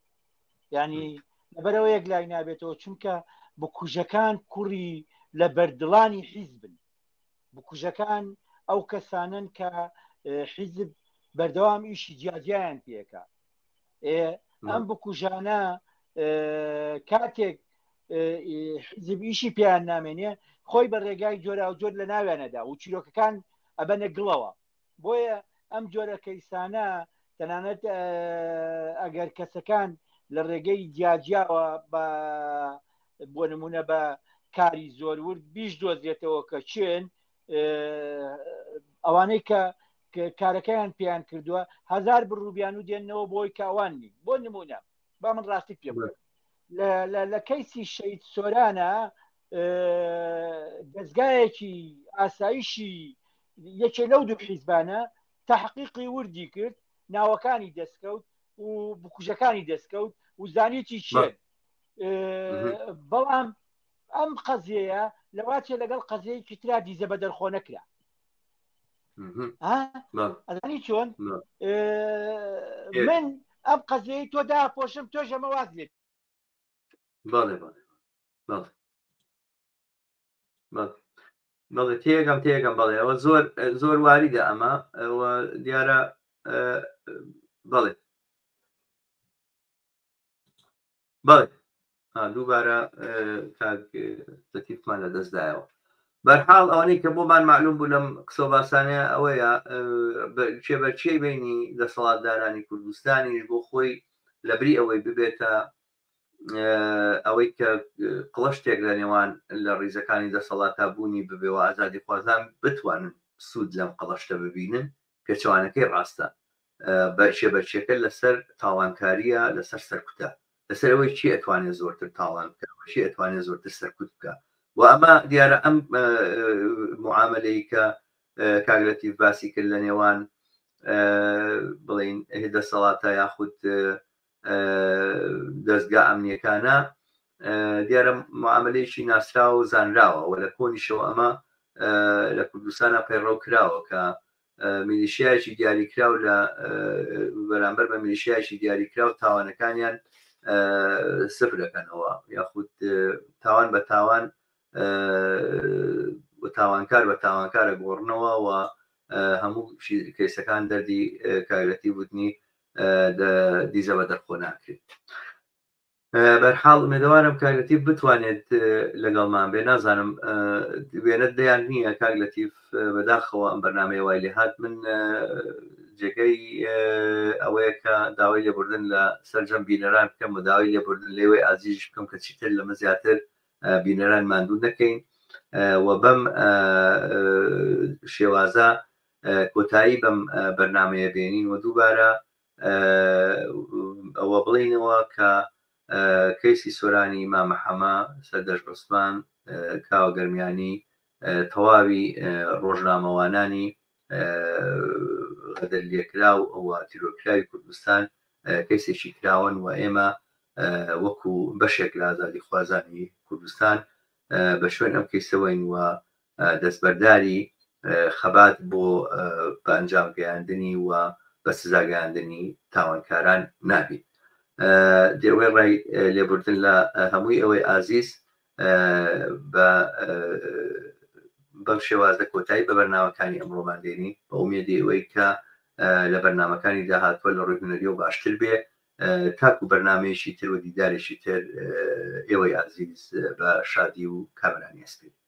ینی لەبەرەوە یەک لای نابێتەوە چونکە بکوژەکان کوڕی لە بەردڵانی حیز بن بکوژەکان ئەو کەسانن کە حیزب بەردەوام ئیشی جیاجیان پێکە ئەم بکوژانە کاتێک حزب ئیشی پێیان نامێنێ خۆی بە ڕێگای جۆرا و جۆر لە ناوێنەدا و چیرۆکەکان ئەبەنە گڵەوە بۆیە ئەم جۆرە کەیسانە تەنانەت ئەگەر کەسەکان لە ڕێگەی جیاجیاوە بە بۆ نمونە بە کاری زۆر ورد بیش دۆزێتەوە کە چێن ئەوانەی کە کارەکەیان پێیان کردووە هزار بڕوبیان و دێنەوە بۆی کاوان نی بۆ نمونە با من ڕاستی پێ لە کەیسی شەید سۆرانە دەستگایەکی ئاسایشی یەکێ لەو دوو حیزبانە تحقیقی وردی کرد ناوەکانی دەستکەوت و بکوژەکانی دەستکەوت و زانیتی چێ بەڵام ئەم قەزیەیە لەواچێ لەگەڵ قەزەی کترا دیزە بە دەرخۆ نەکرا ئەزانی چۆن من ئەم قەزەی تۆ داپۆشم تۆ ژەمە واز لێت بەڵێ بەڵێ بەڵێ تێگەم تێگەم بەڵێ ئەوە زۆر زۆر واریدە ئەمە ئەوە دیارە بەڵێ بەڵێ دووبارە تەکیفمان لە دەستدایەوە بەرحاڵ ئەوەی کە بۆمان معلوم بوو لەم قسە باسانەیە ئەوەیە چێبەرچی بینی دەسەڵاتدارانی کوردستانیش بۆ خۆی لەبری ئەوەی ببێتە ئەوەی کە قڵشتێک لە نێوان لە ڕیزەکانی دەسەڵاتا بوونی ببێ و ئازادی خوازان بتوانن سوود لەم قڵشتە ببینن پێچەوانەکەی ڕاستە بەرچێ بەرچێکە لەسەر تاڵانکاریە لەسەر سەرکوتە لەسەر ئەوەی چی ئەتوانێت زۆرتر تاڵان بکە چی ئەتوانێت زۆرتر سەرکوت بکە و ئەمە دیارە ئەم معاملەی کە کاگلەتی باسی کرد لە نێوان بڵین دەسەڵاتە یاخود دەستگا ئەمنیەکانە دیارە معاملەیەکی ناسراوە و زانراوە و لە کۆنیشەوە ئەمە لە کوردستانە پەیڕەو کراوە کە میلیشیایکی دیاریکراو لە بەرامبەر بە میلیشیایکی دیاریکراو تاوانەکانیان سفر دەکەنەوە یاخود تاوان بە تاوان تاوانکار بە تاوانکارە گۆڕنەوە و هەموو کەیسەکان دەردی کارەتی وتنی دیزە بە دەرخۆ ناکرێت بەرحاڵ مێدەوارم کاگەتی بتوانێت لەگەڵمان بێ نازانم وێنە دەیان نییە کاک لەتیف بەداخەوە ئەم بەرنمەیە وای لێ هاات من جێگەی ئەوەیە کە داوای لێبوردن لە سەررجەم بینەران بکەم و داوای لێبوردن لێوەی ئازیش بکەم کە چیتر لەمە زیاتر بینەران ماندوو نەکەین و بەم شێوازە کۆتایی بەم بەرنامەیە بێنین و دووبارە ئەوە بڵێینەوە کە کەیسی سۆرانی مامە حەمە سەردەشت عوسمان کاوە گەرمیانی تەواوی ڕۆژنامەوانانی غەدر لێکرا و ئەوە تیرۆرکراوی کوردستان کەیسێکی کراون و ئێمە وەکو بەشێک لە ئازادی خوازانی کوردستان بە شوێن ئەم کەیسەوەین و دەستبەرداری خەبات بۆ بە ئەنجام گەیاندنی و بە سزا گەیاندنی تاوانکاران نابیت دەوەی ڕای لێبوردن لە هەمووی ئەوەی ئازیز بە بەم شێوازە کۆتایی بە بەرناوەکانی ئەمڕۆمان دێنی بە ئومێدی ئەوەی کە لە بەرنمەکانی داهاتوە لە ڕووی هوەری و باشتر بێ تاکو بەرنمەیەکی تر و دیدارێکی تر ئێوەی ئازیز بە شادی و کامرانی ئەسپی